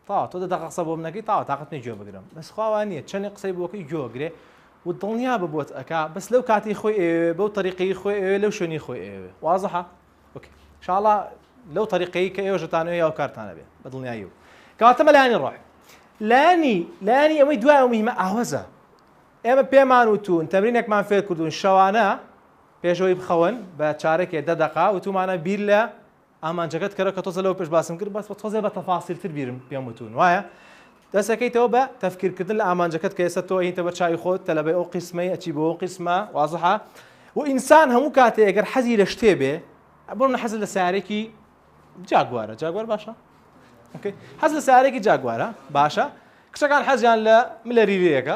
تا تۆ دەدەقە قسە بۆم نەکەی تا تااقت نە گوێ بگرم بەس خواوان نیە چەنی قسەی بۆکەی گوێگرێ و دڵنیا ببوت ئەک بەس لەو کاتی خۆی بەو طریقی خۆی لەو شوێنی خۆی وازحە اوکی انشاءاللە لەو طریقەی کە ئێوەش دەتانەوێ یاو کارتانە بێ بە دڵنیایی و کاتەمە لایانی ڕۆح لانی لانی ئەوەی دوای ئەو مهمە ئاوەزە ئێمە پێمان وتون تەمرینێکمان فێر کردوون شەوانە پێشەوەی بخەون بە چارەکێ دە دەقا وتومانە بیر لە ئامانجەکەت کەرە کە تۆزە لەو پێش باسم کرد بەس بە تۆزێ بە تەفاسیلتر بیرم پێم وتون وایە دەست ئەکەیتەوە بە تەفکیر کردن لە ئامانجەکەت کە ئێستا تۆ ئەیتە بەر چاوی خۆت تەلەبەی ئەو قیسمەی ئەچی بۆ ئەو قیسمە وازحە و ئینسان هەموو کاتێ ئەگەر حەزی لە شتێ بێ بۆ من حەز لە سارێکی جاگوارە جاگوار باشە حەز لە سارێکی جاگوارە باشە کچەکان حەزیان لە ملە ریرەیەەکە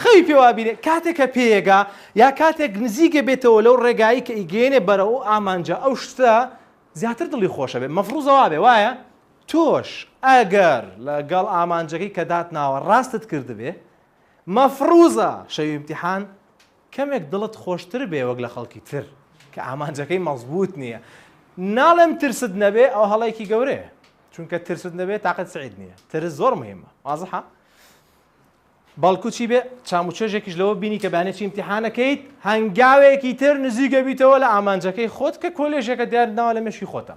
خەوی پێوابیێ کاتێکە پێگا یا کاتێک نزیکە بێتەوە لەو ڕێگایی کە ئیگەێنێ بەرە و ئامانجە ئەو شتە زیاتر دڵی خۆشە بێ مەفروزەوا بێ وایە تۆش ئەگەر لە گەڵ ئامانجەکەی کە داتناوە ڕاستت کردبێ، مەفڕوزە شەوی ئیمتیحان کەمێک دڵت خۆشتر بێ وەک لە خەڵکی تر کە ئامانجەکەی مەزبووت نیە. ناڵێم ترست نەبێ ئەوە هەڵەیەکی گەورەیە چونکە ترست نەبێ تاقەت سەعید نیە. ترس زۆر موهیمە وازحە؟ بەڵکو چی بێ چام و چێژێکیش لەوە بینی کە بانێ چی ئیمتیحانەکەیت هەنگاوێکی تر نزیکەبیتەوە لە ئامانجەکەی خۆت کە کۆلێژێکە دیارت ناوە لە مێشکی خۆتە.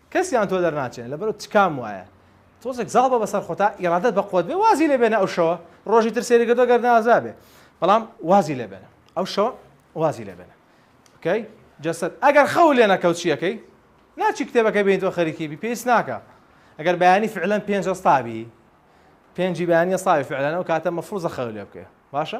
کەسیان تۆ دەرناچێنێ لەبەرو تکام وایە تۆزێک زاڵ بە بەسەر خۆ تا ئیرادەت بە قوەت بێ وازی لێ بێنە ئەو شەوە ڕۆژی تر سێری کردو گەر نازا بێ بەڵام وازی لێ بێنە ئەو شەوە وازی لێ بێنە کەی جەسەد ئەگەر خەو لێ نەکەوت چیەکەی ناچی کتێبەکە بێن تۆ خەریکی بی پێیس ناکە ئەگەر بەیانی فعلەن پێنج ئەستابی پێنجی بەیانە ساوی فعلەنەوە کاتە مەفروزە خەو لێ بکەێ باشە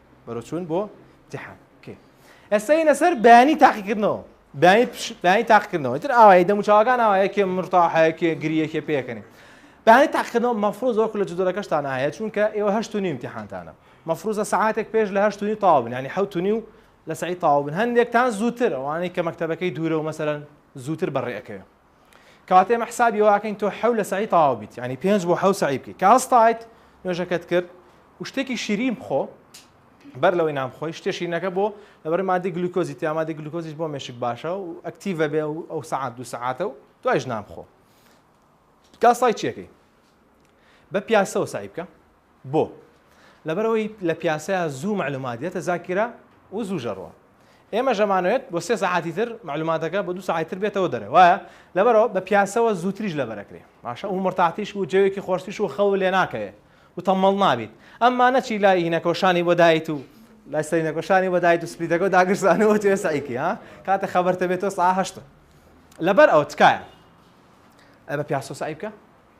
بەرەو چوون بۆ امتحان اوكي ئێستا هینە سەر بەیانی تاقیکردنەوە بەیانی بەیانی تاقیکردنەوە تر ئاوای دەموچاوەکان ئاوا یەکێ مرتاحەیەکێ گریەکێ پێکەنی بەیانی تاقیکردنەوە مەفروز وەکو لە جدۆرەکەشتان هەیە چونکە ئێوە هەشت و نیم امتحانتانە مەفروزە سعاتێک پێش لە هەشت و نی تاوبن ینی حوت و نی و لە سعی تاوبن هەندێکتان زووتر ئەوانەی کە مەکتتەبەکەی دوورە و مەسەرەن زووتر بەڕێەکەوێ کەواتە ئێمە حسابی واکەین تۆ حەو لە سعی تەواو بیت ینی پێنج بۆ حەو سعی بکەیت کە هەستایت نوێژەکەت کرد و شتێکی شیرین بخۆ بەر لەوەی نام خۆی شتێ شیرینەکە بۆ لەبەر مادی گلوکۆزی تیامادی گلوکۆزیش بۆ مێشک باشە و ئەکتیڤە بێ و ئەو سعات دو سعاتە و دوایش نام خۆ کاسای چیەکەی بە پیاسەوە سعی بکە بۆ؟ لەبەرئەوەی لە پیاسەیا زوو مەعلومات یەتە زاکیرە و زوو ژەڕوە. ئێمەش ئەمانەوێت بۆ سێ سەعاتی تر مەعلوماتەکە بۆ دوو سەعاتی تر بێتەوە دەرێ وایە؟ لەبەرئەوە بە پیاسەوە زووتریش لەبەر ئەکرێ باشە و مورتاحتیش و جەوێکی خۆشتریش و خەوو لێ ناکەوێ و تەممەڵ نابیت. ئەمما نەچی لای هینەکەو شانی بۆ دایت و لای سەرینەکەو شانی بۆ دایت و سپلیتەکەو داگرسانی و توێ سەعی کەی ها؟ کاتێ خەبەرتە بێتەوە سەعا هەشتە. لەبەرئەوە تکایە ئەی بە پیاسەوە سەعی بکە.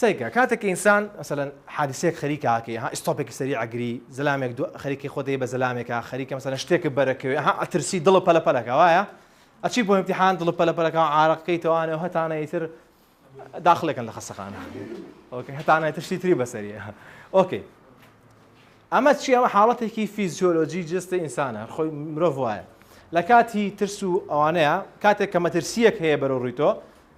سەیرکە کاتێک کە ئینسان مەسەلەن حادیسەیەک خەریکە ئاکەی ها ئیستۆپێکی سەری ئەگری زەلامێک دو خەریکی خۆت دەی بە زەلامێکا خەریکە مەسەلەن شتێکت بەر ئەکەوێ ها ئەترسی دڵت پەلە پەلە ئەکا وایە ئەچی بۆ ئیمتیحان دڵت پەلە پەلە ئەکا عارەق کەی تەوانێ هەتانە ئیتر داخلێکن لە خەستەخانە ئۆکەی هەتانە ئیتر شتی تری بەسەریە ئۆکەی ئەمە چی ئەمە حاڵەتێکی فیزیۆلۆجی جستە ئینسانە خۆی مرۆڤ وایە لە کاتی ترس و ئەوانەیە کاتێک کە مەترسیەک هەیە بەرەو ڕووی تۆ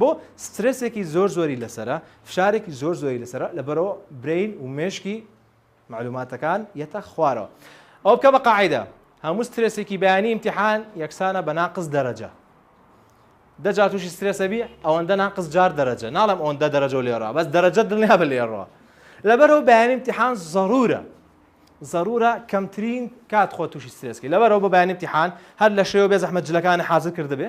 بۆ سترێسێکی زۆر زۆری لەسەرە فشارێکی زۆر زۆری لەسەرە لەبەرەوە برین و مێشکی معلوماتەکان یەتە خوارەوە ئەو بکە بە قاعدە هەموو سترێسێکی بەیانی امتحان یەکسانە بە ناقز دەرەجە دەجا تووشی سترێسەبی ئەوەندە ناقز جار دەرەجە ناڵم ئەوەندە دەرەجە لێڕا بەس دەرەجە دڵنیا بە لێڕەوە لەبەرەوە بەیانی امتحان زەرورە زەرورە کەمترین کات خۆ تووشی سترێسکی لەبەرەوە بە بەیانی امتحان هەر لە شێوە بێ زەحمە جلەکانی حاضر کردبێ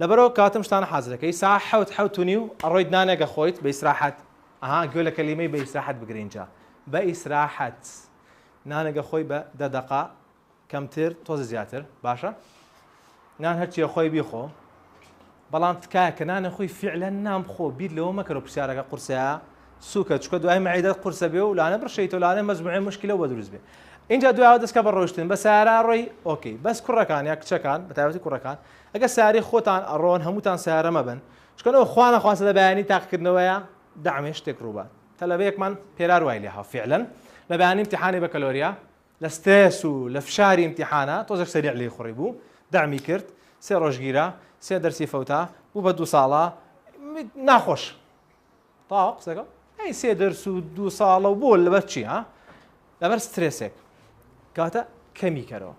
لەبەرئەوە کاتم شتانە حازرەکەی سا حەوت حەوت و نیو ئەڕۆیت نانێک ئەخۆیت بە ئیسراحەت ئەها گوێ لە کەلیمەی بە ئیسراحەت بگرە ئینجا بە ئیسراحەت نانێک ئەخۆی بە دە دەقە کەمتر تۆزە زیاتر باشە نان هەرچی ئەخۆی بیخۆ بەڵام تکایە کە نانە خۆی فعلەن نامخۆ بیر لەوە مەکەرەوە پرسیارەکە قورسەیە سوکە چکە دوای معیدەت قورسە بێ و لانە بڕشەیتۆ لانە مەجموعێ مشکلە بە دروست بێ اینجا دوای دەستکە بە ڕۆشتن بە سارا ڕۆی ئۆکەی بەس کوڕەکان یا کچەکان بە تایبەتی کوڕەکان ئەگە ساری خۆتان ئەڕۆن هەمووتان سارە مەبن چکەەوە خوانە خواسە لە بەیانی تاقکردنەوەیە دامێ شتێک ڕووبات تەلەبەیەکمان پێرار وای لێها فعلەن لە بەیانی امتحانی بە کەلۆریا لە سترێس و لە فشاری امتحانە تۆزێک سەریع لی خوڕی بوو دامی کرد سێ ڕۆژگیرە سێ دەرسی فەوتا بوو بە دوو ساڵە ناخۆش تاوە قسەکە ئەی سێ دەرس و دوو ساڵە و بۆ لەبەر چی ها لەبەر سترێسێک کاتە کەمی کەرەوە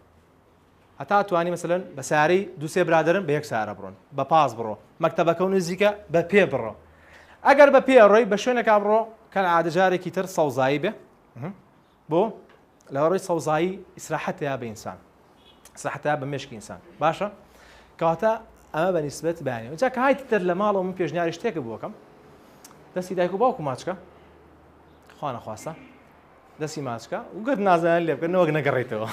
هەتا توانی مەسەن بە ساری دوسێ برادرن بە یەک سارە بڕۆن بە پاس بڕۆ مەکتتەبەکە و نزیکە بە پێ بڕۆ ئەگەر بە پێ ڕۆی بە شوێنەکە بڕۆ کە عادەجارێکی تر سەوزایی بێ بۆ لەوەڕوی سەوزایی ئیسراحەت هەیە بە ئینسان ئیسراحەت هەیە بە مێشکی ئینسان باشە کەواتە ئەمە بە نیسبەت بەیانەوە جا کە هایت دەر لە ماڵەوە من پێشنیاری شتێکە بۆکەم دەستی دایک و باوکو ماچکە خوانە خواستە دەستی ماچکە و گەر نازانیان لێ بکەن نەوەک نەگەڕێتەوە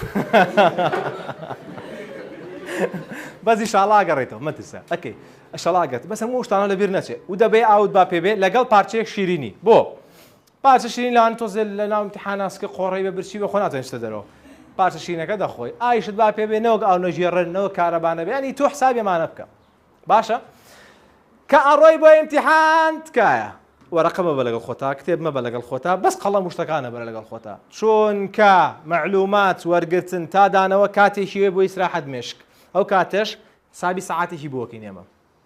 بەزی شاڵا گەڕێتەوە مەترسە ئەکەی ئەشەڵاگەت بەس هەموو شتانە لەبیر نەچێت و دەبێ ئاوت با پێبێ لەگەڵ پارچەیەک شیرینی بۆ پارچە شیرین لانی تۆزێ لە ناو امتحانا سکە قۆڕەی بە برچی بە خۆ ناتوانێت چتە دەرەوە پارچە شیرینەکە دەخۆی ئایشت با پێ بێ نەوەک ئاو نەژێڕن نەوە کارەبانە بێ ینی تۆ حسابی ئەمانە بکە باشە کە ئەڕۆی بۆ امتحان تکایە وەرەقە مەبە لەگەڵ خۆتا کتێب مەبە لەگەڵ خۆتا بەس قەڵەم وشتەکانە بەرە لەگەڵ خۆتا چونکە مەعلومات وەرگتن تا دانەوە کاتێکی وێ بۆ ئیسراحەت مێشک ئەو کاتەش حسابی سەعاتێکی بۆکەین ئێمە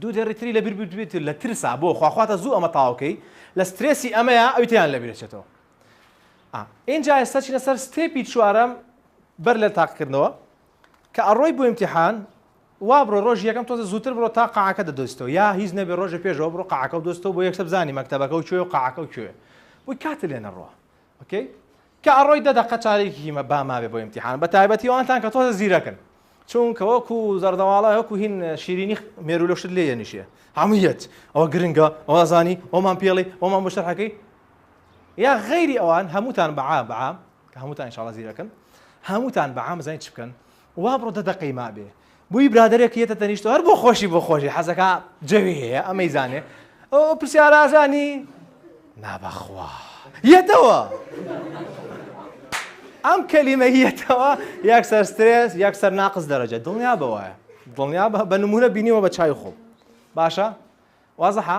دوو دێڕی تری لەبیر بردبێت لە ترسا بۆ خوا خواتە زوو ئەمە تاو کەی لە سترێسی ئەمەیە ئەوی تیان لەبیر چێتەوە ئا ئینجا ئێستا چینە سەر ستێپی چوارەم بەر لە تاقکردنەوە کە ئەڕۆی بۆ ئیمتیحان وا بڕۆ ڕۆژ یەکەم تۆزە زووتر بڕۆ تا قاعەکە دەدۆستەوە یا هیچ نەبێ ڕۆژە پێشەوە بڕۆ قاعەکە و دۆستەوە بۆ یەکسە بزانی مەکتەبەکە و کوێ و قاعەکە و کوێ بۆی کاتە لێ نەڕوە ئۆکەی کە ئەڕۆی دە دەقە چارێکی هیمە با مابێ بۆ ئیمتیحان بە تایبەتی ئەوانتان کە تۆزە زیرەکن چونکە وەکو زەردەواڵە وەکو هین شیرینی مێرو لە شت لێ یەنیشێ هەموویەت ئەوە گرنگە ئەوە زانی ئەومان پێڵی ئەومان بۆ شەرحەکەی یا غەیری ئەوان هەمووتان بەعام بەعام کە هەمووتان ئینشاڵە زیرەکن هەمووتان بەعام زانین چ بکەن وا بڕۆ دە دەقەی مابێ بوی برادەرێک یەتە تەنیشتەوە هەر بۆ خۆشی بۆ خۆشی حەزەکە جەوی هەیە ئەمەی زانێ ئەو پرسیارە ئازانی نابەخوا یەتەوە ئەم کەلیمە یەتەوە یەک سەر سترێس یەک سەر ناقز دەرەجە دڵنیا بەوەە دڵنیا بە نمونە بینیوە بە چای خۆم باشە وازەحە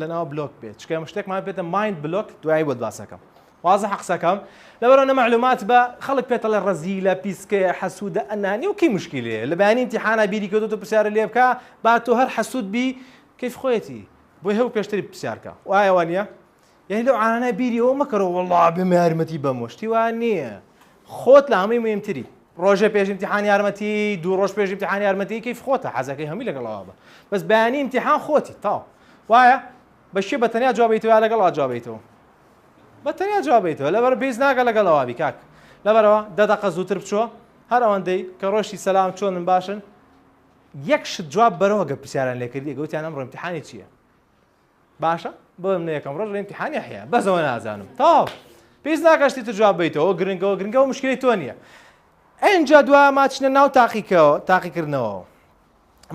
لەناو بلۆک بێت چکە ئێمە شتێکمان پێێتە مایند بلۆک دوای بۆت باسەکەم وازە حەقسەکەم لەبەرەوە نەمەعلومات بە خەڵک پێتەڵە ڕزی لە پیسکەیە حەسوودە ئەنانی و کەی مشکلێ لە بەیانی امتحانا بیری کردو تۆ پرسیارە لێ بکە با تۆ هەر حەسوود بی کەیف خۆیەتی بۆی هەو پێشتری پرسیارکە وایەوە نیە یانی لەو عانانە بیری ئەوە مەکەرەوە وەڵا بێمە یارمەتی بەموە شتی وا نییە خۆت لە هەمووی مهمتری ڕۆژێ پێش امتحان یارمەتی دوو ڕۆژ پێش امتحان یارمەتی کەیف خۆتە حەزەکەی هەمووی لەگەڵەوە بە بەس بەیانی امتحان خۆتی تاو وایە بەشی بە تەنیا جوابیتەوە لەگەڵا جوابیتەوە بە تەنیا جوابیتەوە لەبەر پێیز ناگە لەگەڵەوە بی کاک لەبەرەوە دەدەقە زووتر بچوە هەر ئەوەندەی کە ڕۆشتی سەسلام چۆنن باشن یەک شت جواب بەرەوە گە پرسیاران لێکردی گەوتیان ئەم ڕۆمتحانی چییە باشە بۆ من یەکەم ڕۆژ ئیمتحانی حیا بەسەوە نازانم تاو پێست ناکەشتی تر جواب بیتەوە گرنگەوە گرنگەوە مشکلی تۆ نییە ئەجا دوا ماچنە ناو تاقیکەوە تاقیکردنەوە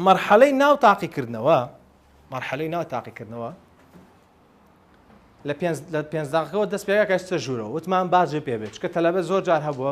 مەرحەلەی ناو تاقیکردنەوە مەرحەلەی ناو تاقیکردنەوە لە پێنج داقەوە دەست پێگاکە چە ژوورەوە وتمان باجێ پێ بێت چکە تەلەبە زۆر جار هەبووە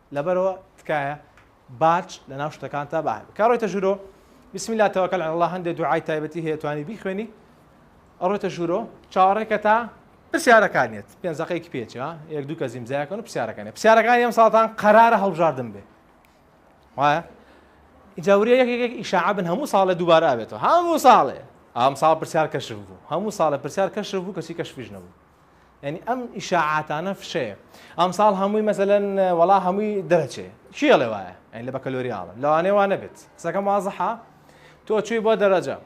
لەبەرەوە تکایە باج لەناو شتەکانتا با هەبێ کا ڕۆیتە ژورۆ بسم اللە توکل علی اللە هەندێ دوعای تایبەتی هەیە توانی بیخوێنی ئەڕۆیتە ژورۆ چاوەڕێکە تا پرسیارەکانیت پێنج دەقەیەکی پێچ ها یەک دوو کەس ئیمزایەکەن و پرسیارەکانی پرسیارەکانی ئەم ساڵتان قەرارە هەڵبژاردن بێ وایە ئینجا وریا یەک یەکێک ئیشاعە بن هەموو ساڵێ دووبارە ئەبێتەوە هەموو ساڵێ ئەم ساڵ پرسیار کەشف بوو هەموو ساڵە پرسیار کەشف بوو کەچی کەشفیش نەبوو یعنی ئەم ئیشاعاتانە فشەیە ئەمساڵ هەمووی مەسەلەن وەڵا هەمووی دەرەچێ کیڵێ وایە ئەین لە بەکەلۆریاڵە لەوانێ وانە بێت قسەکەم وازەحا تۆ چوی بۆ دەرەجە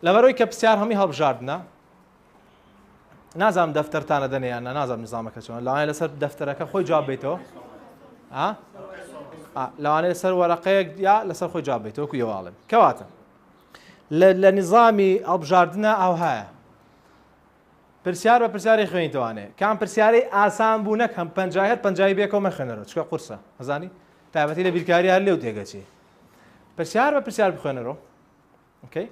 لەبەرەوەی کە پرسیار هەمی هەڵبژاردنە نازانم دەفتەرتانە دەنێیانە نازانم نزامەکە چۆن لەوانە لەسەر دەفتەرەکە خۆی جواب بیتەوە لەوانە لەسەر وەرەقەیەک یا لەسەر خۆی جواب بیتەوە کو یواڵم کەواتە لە نظامی ئەڵبژاردنە ئەوهایە پرسیار بە پرسیاری خوێنیتەوانێ کام پرسیارەی ئاسان بوو نەک هەم پەنجای هەر پەنجای بێکەوە مەخوێنەرەوە چکە قورسە ئەزانی تایبەتی لە بیرکاری هەر لێو تێگەچی پرسیار بە پرسیار بخوێنەرەوە ئۆکەی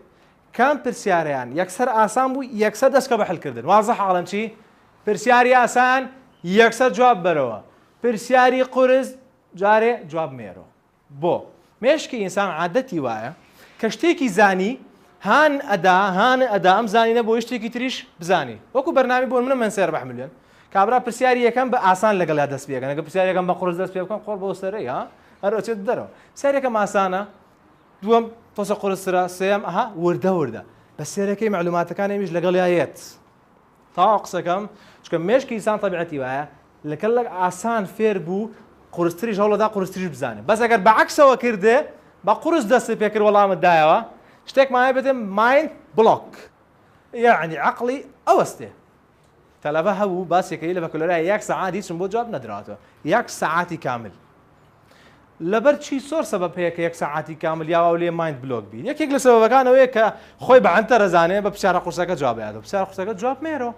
کام پرسیاریان یەکسەر ئاسان بوو یەکسەر دەستکە بە حلکردن وازە حاڵم چی پرسیاری ئاسان یەکسەر جواب بەرەوە پرسیاری قورس جارێ جواب مێرەوە بۆ؟ مێشکی ئینسان عادەتی وایە کە شتێکی زانی هان ئەدا هان ئەدا ئەم زانینە بۆی شتێکی تریش بزانی وەکو بەرنامی بۆن منە من سێر بەح ملیۆن کابرا پرسیاری یەکەم بە ئاسان لەگەڵا دەست پێکەن ئەگە پرسیارەکەم بە قڕز دەست پێ بکەم قڕ بۆ سەرەی ها هەرۆچێت دەرەوە سەرەکەم ئاسانە دووەم تۆسە قرسرا سێم ئەها وردە وردە بە سێرەکەی معلوماتەکان ئەمیش لەگەڵ یایەت تەواو قسەکەم چونکە مێشکی ئینسان تەبیعەتی وایە لەکە لە ئاسان فێر بوو قورستریش هەوڵەدا قورستریش بزانێ بەس ئەگەر بەعکسەوە کردێ بە قورس دەستی پێکرد وەڵامت دایەوە شتێکمان هەیە بێتێ مایند بڵۆک یعنی عەقڵی ئەوەستێ تەلەبە هەبوو باسێکەی لە بەکەلۆرای یەک سەعات هیچم بۆ جواب نەدراوەتەوە یەک سەعاتی کامل لەبەر چی سۆر سەبەب هەیە کە یەک سەعاتی کامل یاواو لێ مایند بلۆک بی یەکێک لە سەبەبەکان ئەوەیە کە خۆی بە عەنتەرە زانێ بە پسیارە قورسەکە جواب ئەیاتەوە پسیارە قورسەکە جواب مێرۆ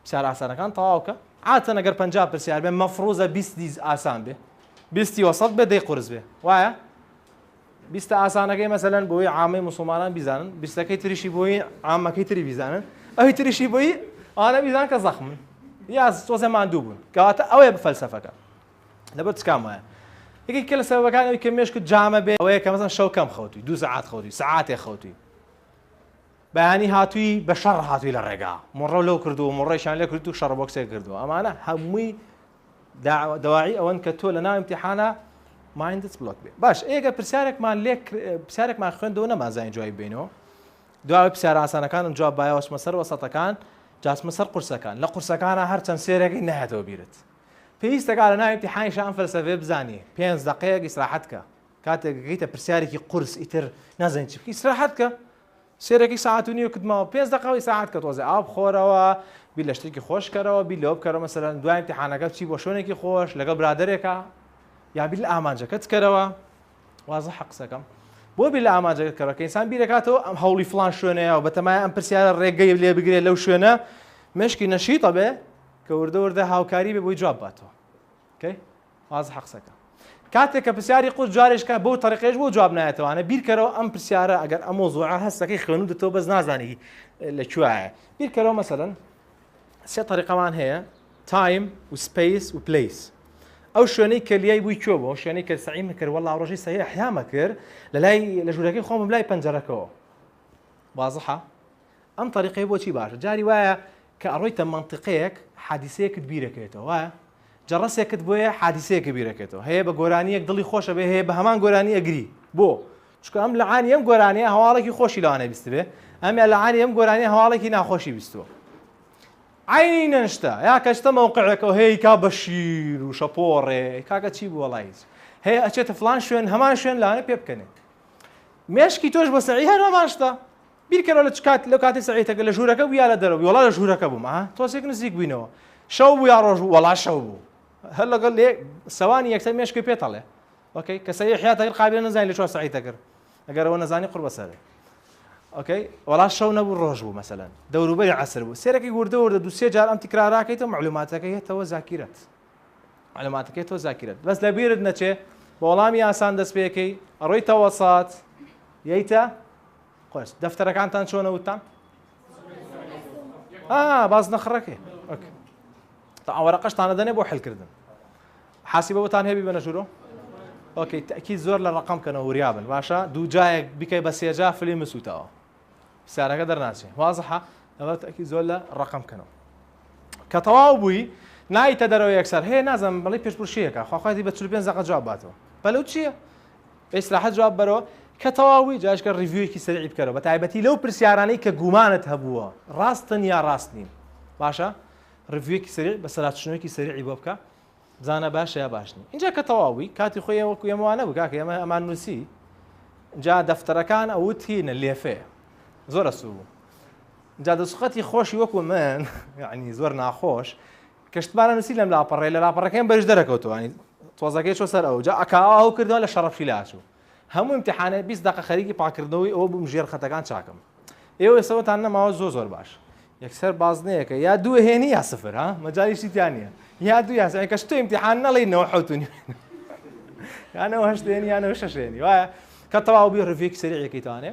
پسیارە ئاسانەکان تەواو کە عاتەن ئەگەر پەنجا پرسیار بێ مەفروزە بیست دیز ئاسان بێ بیستی وەسەت بێ دەی قورس بێ وایە بیستە ئاسانەکەی مەسەلەن بۆی عامەی مسلمانان بیزانن بیستەکەی تریشی بۆی عامەکەی تری بیزانن ئەوی تریشی بۆی ئانە بیزان کە زەخمن یا تۆزێ ماندوو بوون کەواتە ئەوێ بە فەلسەفەکە لەبەر چ کام وایە؟ یەکێک کە لە سەبەبەکان ئەوی کە مێشکت جامە بێ ئەوەیە کە مەزان شەو کەم خەوتوی دوو سعات خەوتوی سعاتێ خەوتوی بەیانی هاتووی بە شەڕ هاتووی لە ڕێگا مڕە لەو کردو مڕێشان لە کرد و شەڕ بۆکسێک کردو ئەمانە هەمووی داواعی ئەوەن کە تۆ لە ناو امتحانە مایندت بلوک بێ باش ئێگە پرسیارێکمان لێک پرسیارێکمان خوێندەوە نەمازانین جوای بینەوە دواوە پرسیار ئاسانەکانم جواب بایەوەچمە سەر وەسەتەکان جاسمە سەر قورسەکان لە قورسەکانە هەرچەند سێرەکەی نهێتەوە بیرت پێویستە کە لەناو ئیمتیحانیشا ئەم فەلسەفەیە بزانی پێنج دەقەیەک ئیسراحەت کە کاتێک گەیتە پرسیارێکی قورس ئیتر نازانی چی بکەی ئیسراحەت کە سێرەکی ساعت و نیو کتمەوە پێنج دەقەوە ئیسراحەت کە تۆزێ ئاو بخۆرەوە بیر لە شتێکی خۆشکەرەوە بیر لەوە بکەرەوە مەسەلەن دوای ئیمتیحانەکە چی بۆ شوێنێکی خۆش لەگەڵ برادەرێکە یا بیر لە ئامانجەکەت کەرەوە وازە حە قسەکەم بۆ بیر لە ئامانجەکەت کەرەوە کە ئینسان بیرەکاتەوە ئەم هەوڵی فلان شوێنەیە و بەتەمای ئەم پرسیارە ڕێگەی لێ بگرێت لەو شوێنە مشکی نەشیتە بێ کە وردە وردە هاوکاری بێ بۆی جواب باتەوە کەی وازحە قسەکە کاتێک کە پرسیاری قورس جارێش کە بەو تەریقەش بۆ جواب نایەتەوە ئەنە بیرکەرەوە ئەم پرسیارە ئەگەر ئەمۆ زۆعە هەستەکەی خوێنو دەتەوە بەس نازانی لە کوایە بیرکەرەوە مەسەرەن سێ تەریقەمان هەیە تایم و سپیس و پلیس ئەو شوێنەی کە لیای بووی کوێ بۆ شوێنەی کە سعی مکرد وەڵا ڕۆژی سەهی حیامە کرد لە لای لە ژوورەکەی خۆم لای پەنجەرەکەەوە وازحە ئەم تەریقەیە بۆچی باشە؟ جاری وایە کە ئەڕۆیتە مەنتیقەیەک حادیسەیەکت بیرەکەوێتەوە وایە؟ جەڕەسێکت بۆیە حادیسەیەکە بیرەکەوێتەوە هەیە بە گۆرانیەک دڵی خۆش ئەبێ هەیە بە هەمان گۆرانی ئەگری بۆ؟ چونکە ئەم لەعانی ئەم گۆرانیە هەواڵێکی خۆشی لەوانەیە بیستبێ ئەمیان لەعانی ئەم گۆرانیە هەواڵێکی ناخۆشی بیستووە عینی نەشتە یا کەچتە مەوقعەکەەوە هەیە کا بە شیر و شەپۆڕێ کاکە چی بووە لایز هەیە ئەچێتە فلان شوێن هەمان شوێن لاە پێ بکەنێ مێشکی تۆش بە سەعی هەرەماشتا بیرکەرەوە لە چ کات لەو کاتی سەعیتەکە لە ژوورەکە بوو یا لە دەرەوە بوو وەڵا لە ژوورەکە بووم ئەها تۆزێک نزیک بووینەوە شەو بوو یا ڕۆژ بوو وەڵا شەو بوو هەر لەگەڵ لێ سەوانی یەکسەر مێشکی پێتەڵێ ئۆکەی کە سەوی حیاتەکە قابلە نەزانین لە چوار سەعیتە کرد ئەگەرەوە نەزانی قڕ بەسەرێ ئۆکەی وەڵا شەو نەبوو ڕۆژ بوو مەسەلەن دەوروبەری عسر بوو سێرەکی وردە وردە دو سێ جار ئەم تکراراکەیتەوە معلوماتەکە هێتەوە زاکیرەت معلوماتەکەی تۆ زاکیرەت بەس لە بیرت نەچێ بە وەڵامی ئاسان دەست پێەکەی ئەڕۆی تەوەسات یەیتە خۆش دەفتەرەکانتان چۆنە وتان باز نەخڕەکەی تا ئەوەرەقەشتانە دەنێ بۆ حلکردن حاسی بەوتان هەبی بە نەژورۆ ئۆکەی تەکی زۆر لە ڕقم کەنە وریابن باشە دوو جایەک بکەی بە سێجا فلی مسووتەوە سارەکە دەرناچێ وازحە ئەوە تەکی زۆر لە ڕقم کەنەوە کە تەواو بووی نایتە دەرەوە یەکسەر هەیە نازم بڵی پێشپشیەکە خواخوای بە چ پێ زەقە جواب باتەوە بەلو چییە؟ بە ئیسراحەت جواب بەرەوە کە تەواو بووی جا ئیشکە ڕیڤیویەکی سەریعی بکەرەوە بە تایبەتی لەو پرسیارانەی کە گومانت هەبووە ڕاستن یا ڕاست نین باشە ڕیڤیویەکی سەریع بە سەراچشنوویەکی سەریعی بۆ بکە بزانە باشە یا باش نین ئینجا کە تەواو بووی کاتی خۆی وەکو ئێمە وا نەبوو کاکە ئێمە ئەمان نووسی جا دەفتەرەکان ئەوت هینە لێفەیە زۆر ئەسوو بوو جا دەسوقەتی خۆشی وەکو من یعنی زۆر ناخۆش کشتمانە نوسی لەم لاپەڕەیە لە لاپەڕەکەیم بەریش دەرەکەوتەوە ینی تۆزەکەی چۆ سەر ئەو جا ئەکا ئاو کردەوە لە شەڕە فیلا ئەچوو هەموو امتحانێ بیست دەقە خەریکی پاکردنەوەی ئەوە بووم ژێر خەتەکان چاکم ئێوە ئێسەوەتان نەماوە زۆ زۆر باش یەکسەر بازنەیەکە یا دوو هێنی یا سفر ها مەجالیشی تیا نییە یا دوو یاسای کەش تو امتحان نەڵینەوە حوتونی یانەوە هەشتێنی یانەوە شەشێنی وایە کە تەواو بی ڕڤێکی سەریعەکەیتوانێ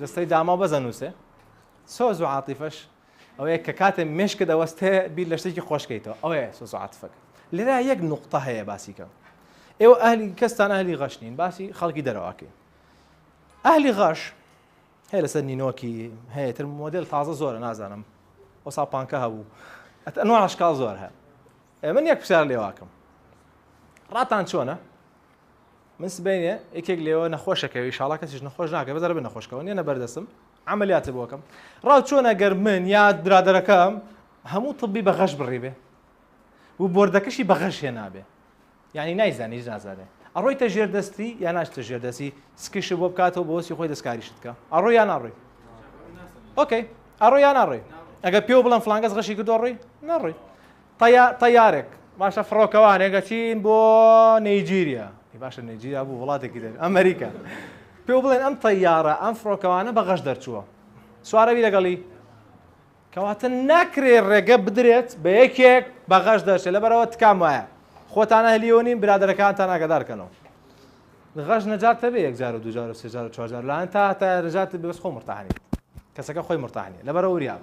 جستەی داماو بەزە نووسێ سۆز و عاتیفەش ئەوەیە کە کاتێ مشکە دەوەستێ بیر لە شتێکی خۆشکەیتەوە ئەوەیە سۆز و عاتفەکە لێرا یەک نقطە هەیە باسیکە ئێوە ئەهلی کەستان ئەهلی غەش نین باسی خەڵکی دەرەواکەی ئەهلی غەش هەیە لەسەر نینۆکی هەیە تر مۆدل تازە زۆرە نازانم وەسا پانکە هەبوو ئەتەنوە عشکال زۆر هەیە من یەک پرسیار لێواکەم ڕاتان چۆنە من سبەینێ یەکێک لێوە نەخۆشەکەوی ئیشاڵا کەسیش نەخۆش ناکە بەزەرە بە نەخۆشکەوە نیە نەبەردەسم عملیاتە بۆکەم ڕاو چۆنە گەر من یاد برادەرەکەم هەموو طبی بە غەش بڕیبێ و بردەکەشی بە غەش هێنابێ یعنی نایزانیش نازانێ ئەڕۆیتە ژێر دەستی یا ناشتە ژێر دەستی سکیش بۆ بکاتەوە بۆسی خۆی دەستکاریشت کە ئەڕۆ یان ناڕۆی ئۆکەی ئەڕۆ یان ناڕۆی ئەگە پێ بڵم فلانگەس غەشی کردۆ ڕۆی ناڕۆی طیا طیارێک باشە فڕۆکەوانێک ئەچین بۆ نەیجیریا ئەی باشە نەیجیریا بوو وڵاتێکی دەر ئەمریکا پێو بڵێن ئەم طیارە ئەم فڕۆکەوانە بە غەش دەرچووە سوارەوی لەگەڵی کەواتە ناکرێ ڕێگە بدرێت بە یەکێک بە غەش دەرچێت لەبەرەوە تکام وایە خۆتانە هەلیەوە نین برادەرەکانتان ئاگادارکەنەوە غەش نەجاتە بێ یەکجار و دوجار و سێجار و چوارجار لایەن تا تا نەجات بەس خۆ مرتاحنیت کەسەکە خۆی مرتاحنی لەبەرە وریاب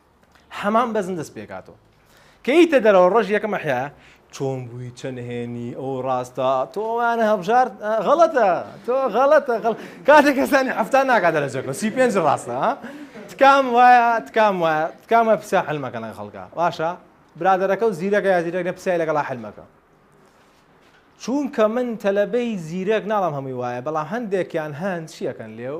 حەمام بەزن دەست پێکاتەوە کەیتە دەرەوە ڕۆژ یەکەم حیا چۆن بووی چەند هێنی ئەو ڕاستە تۆوانە هەبژار غەڵەتە تۆ غەڵەتە غڵ کاتێک کەسانی هەفتان ناکات لە جەکە سی پێنج ڕاستە تکام وایە تکام وایە تکامە پسا حلمەکە لە خەڵکە باشە برادەرەکە و زیرەکە یا زیرەک لە پسای لەگەڵا حلمەکە چونکە من تەلەبەی زیرەک ناڵام هەمووی وایە بەڵام هەندێکیان هەند چیەکەن لێو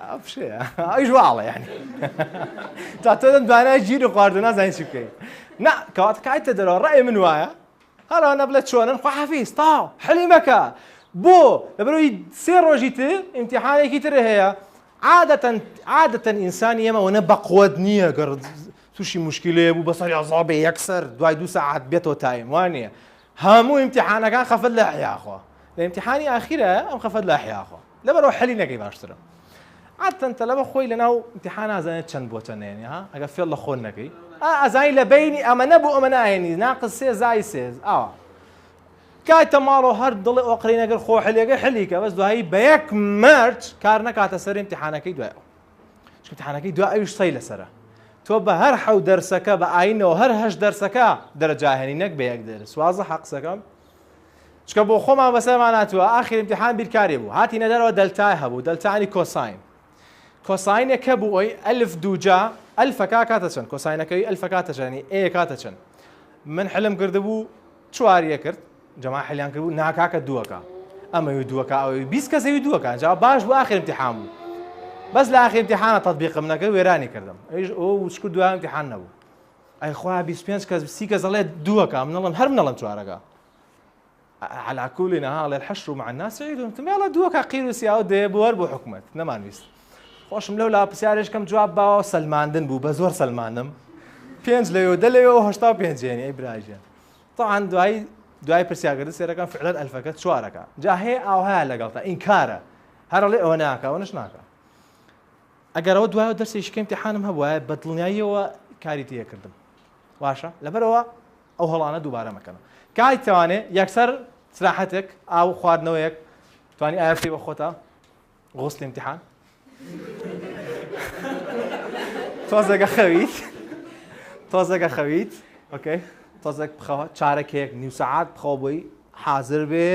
ئەوش واڵە یانی تا تۆ دەم دوانای ژیر و خواردو نازانین چی بکەین نا کەوات کایتە دەرەوە ڕێ من وایە هەرانە بڵێ چۆنن خواحافیز تاو حەلیمەکە بۆ لەبەرەوەی سێ ڕۆژی تر ئیمتحانێکی تر هەیە عادەتەن عادەتەن ئینسانی ئێمەەوەە بەقوت نییە گەڕ تووشی مشکلەیە بوو بەسەر یازابێ یەکسەر دوای دو ساعات بێتەوە تایم وانە هەموو ئیمتحانەکان خەفەت لە حیاخۆ لە ئیمتحانی ئاخیرە ئەم خەفەت لە حیاخۆ لەبەرئەوە حەلی نەکەی باشترە. عادەتەن تەلەبە خۆی لەناو ئیمتیحان ئازانێت چەند بۆ چەند ئەیەنی ها ئەگەر فێڵ لە خۆت نەکەی ئا ئەزانی لە بەینی ئەمەنە بۆ ئەمەنە ئەیەنی ناقص سێ زای سێ ئاوا کایتە ماڵەوە هەر دڵێ ئۆقرەی نەگەر خۆ حلێگە حلیکە بەس دوایی بە یەک مەرج کار نەکاتە سەر ئیمتیحانەکەی دوای ئەو چکە امتحانەکەی دوا ئەویش سەی لەسرە تۆ بە هەر حەو دەرسەکە بە ئاینەوە هەر هەش دەرسەکە دەرەجاهێنی نەک بە یەک دەرس وازە حەقسەکەم چونکە بۆخۆمان بەسەرمان هاتووە ئاخر امتحان بیرکاری بوو هاتینە دەرەوە دەلتای هەبوو دەلتانی کۆساین کۆساینێک کە بوو ئەوی ئەلف دووجا ئەلفەکە کاتە چەند کۆساینەکەی ئەلفە کاتە چەنی ئەیە کاتە چەند من حلم کردبوو چواریە کرد جەما حلیان کردبوو ناکاکە دووەکە ئەمەوی دووەکە ئەوی بیست کەسەوی دووەکە جا باش بوو ئاخر امتحان بوو بەس لە ئاخر امتحانە تطبیقم نەکرد وێرانی کردم ئەویش ئەو وچکو دوام امتحان نەبوو ئەی خۆا بیست پێنج کەس سی کەس ئەڵێ دووەکە من ئەڵێم هەر من ئەڵێم چوارەکە على كل نهار الحشر مع الناس عيد تمالا دووەکە قیر و سیاوە دێ بۆەر بۆ حکومت نەمانویست خۆشم لەو لا پرسیارش کەم جواب باوە سەلماندن بوو بە زۆر سەلمانم پێنج لەوێ دە لەوێەوە هشتا پێنجێنی ئەی براژێن طبعا دوایی دوای پرسیاگرد سێرەکان فعلەن ئەلفەکە چوارەکە جا هەیە ئاوها لەگەڵ تا ئینکارە هەرڵێ ئەوە ناکە ئەوەش ناکە ئەگەر ئەوە دوایەوە دەرسێکی کە ئیمتیحانم هەبوایە بە دڵنیاییەوە کاری تێ ئەکردم باشە لەبەرەوە ئەو هەڵانە دووبارە مەکەنە کاتی توانێ یەکسەر سراحەتێک ئاو خواردنەوەیەک توانی ئایا بکەی بە خۆتە غوسلی امتحان تۆزەگە خەویت تۆزەگە خەویت ئۆکەی تۆزەک بخەوە چارەکێک نیو سەعات بخەوە بۆی حازر بێ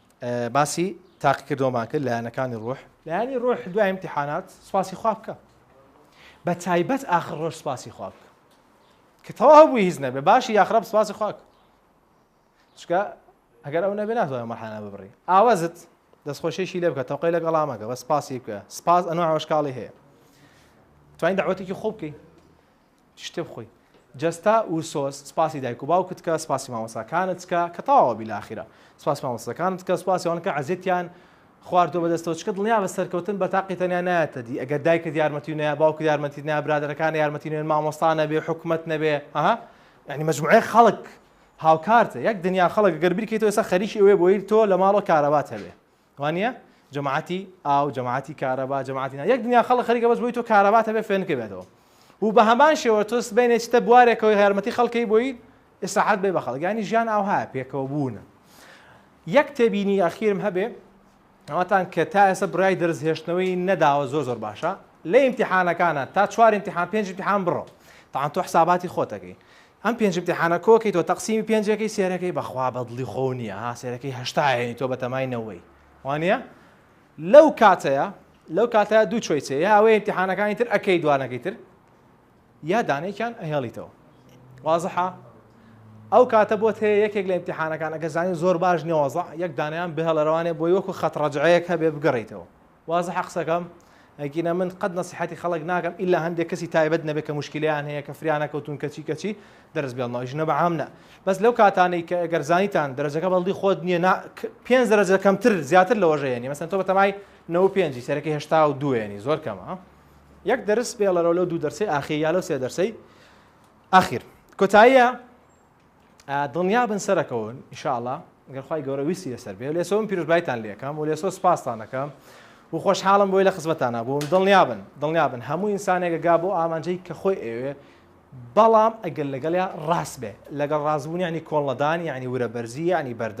باسی تاقیکردەوەمان کرد لایەنەکانی ڕوح. لایەنی ڕوح دوای ئیمتیحانات سوپاسی خوا بکە بە تایبەت ئاخر ڕۆژ سوپاسی خوا بکە کە تەواو بووی هیچ نەبێ باشی یاخراب سوپاسی خوا بکە چکە ئەگەر ئەو نەبێ ناتوانێت مەحانە ببڕی ئاوازت دەستخۆشیشی لێ بکە تەوقی لە گەڵامەکە بە سپاسی بکە سپاس ئەنو ئەوشکاڵی هەیە توانین داوەتێکی خۆ بکەین شتێ بخۆی جەستە وسۆز سپاسی دایک و باوکت کە سپاسی مامۆساکانت کە کە تەواوە بیلاخیرە سپاسی مامۆساکانت کە سپاسی ئەوان کە عەزێتیان خواردۆ بەدەستەوە چکە دڵنیا بە سەرکەوتن بە تاقی تەنیا نایەتە دی ئەگەر دایکت یارمەتی نەیە باوکت یارمەتی نەیە برادەرەکان یارمەتی نوێن مامۆستا نەبێ حکومت نەبێ ئەها یعنی مجموعەیە خەڵک هاوکارتە یەک دنیا خەڵک گەر بیرکەیتەوە ئێستا خەریکی ئەوەیە بۆی تۆ لە ماڵەوە کارەبات هەبێ وانیە جەماعەتی ئاو جەماعەتی کارەبا جەماعەتی نا یەک دنیا خەڵک خەریکە بەس بۆی تۆ کارەبا تەبێ فێنکە بێتەوە و بە هەمان شێوە تۆ سبەینێ چتە بوارێکەوەی یارمەتی خەڵکەی بۆی ئیسراحەت بێ بە خەڵک ینی ژیان ئاوها پێکەوە بوونە یەک تێبینی ئەخیرم هەبێ ئەوتان کە تا ئێستا برای دەرز هێشتنەوەی نەداوە زۆر زۆر باشە لە ئیمتحانەکانە تا چوار امتحان پێنج امتحان بڕۆ تاان تۆ حساباتی خۆتەکەی ئەم پێنج امتحانە کۆ کەی تۆ تەقسیمی پێنج ئەکەی سێر ئەکەی بەخوا بەدڵی خۆو نیە ها سێر ئەکەی هەشتا ئەهێنی تۆ بەتەمای نەوەی وانیە لەو کاتەیە لەو کاتەیە دوو چۆیسێ یا ئەوەی امتحانەکانی تر ئەکەی دوانەکەی تر یا دانێکیان ئەهێڵیتەوە وازحە ئەو کاتە بۆت هەیە یەکێک لە امتحانەکان ئەگە زانانی زۆر باش نێوەزە یەک دانیان بهێڵەرەوانێ بۆی وەکو خەت ڕەجعەیەک هەبێ بگەڕیتەوە وازحە قسەکەم ئەگینا من قەت نەسیحەتی خەڵک ناکەم ئیلا هەندێک کەسی تایبەت نەبێت کە موشکیلەیان هەیە کە فریانەکەوتون کەچی کەچی دەرس بێڵنەوە ژنە بە عام نا بەس لەو کاتانەی کە ئەگەر زانیتان دەرەجەکە بەڵدی خۆت نییە نا پێنج دەرەجە کەمتر زیاتر لەوە ژەیەنی مەسەن تۆ بەتەمای نەوە پێنجی سەرەکە هێشتا و دوێنی زۆر کەمە یەک دەرس بێڵەرەوە لەو دوو دەرسی ئاخیر یا لەو سێ دەرسەی ئاخیر کۆتاییە دڵنیا بن سەرەکەون ان شاء اللە گەر خوای گەورە ویستی لەسەر بێ لێسۆ من پیرۆزبایتان لێ ئەکەم و لێسۆ سوپاستان ئەکەم و خۆشحاڵم بۆی لە خزمەتانا بووم دڵنیا بن دڵنیا بن هەموو ئینسانێکە گا بۆ ئامانجەی کە خۆی ئەوێ بەڵام ئەگەر لەگەڵیا ڕاست بێ لەگەڵ ڕاستبوون یعنی کۆڵنەدان یعنی ورەبەرزی یعنی بەردە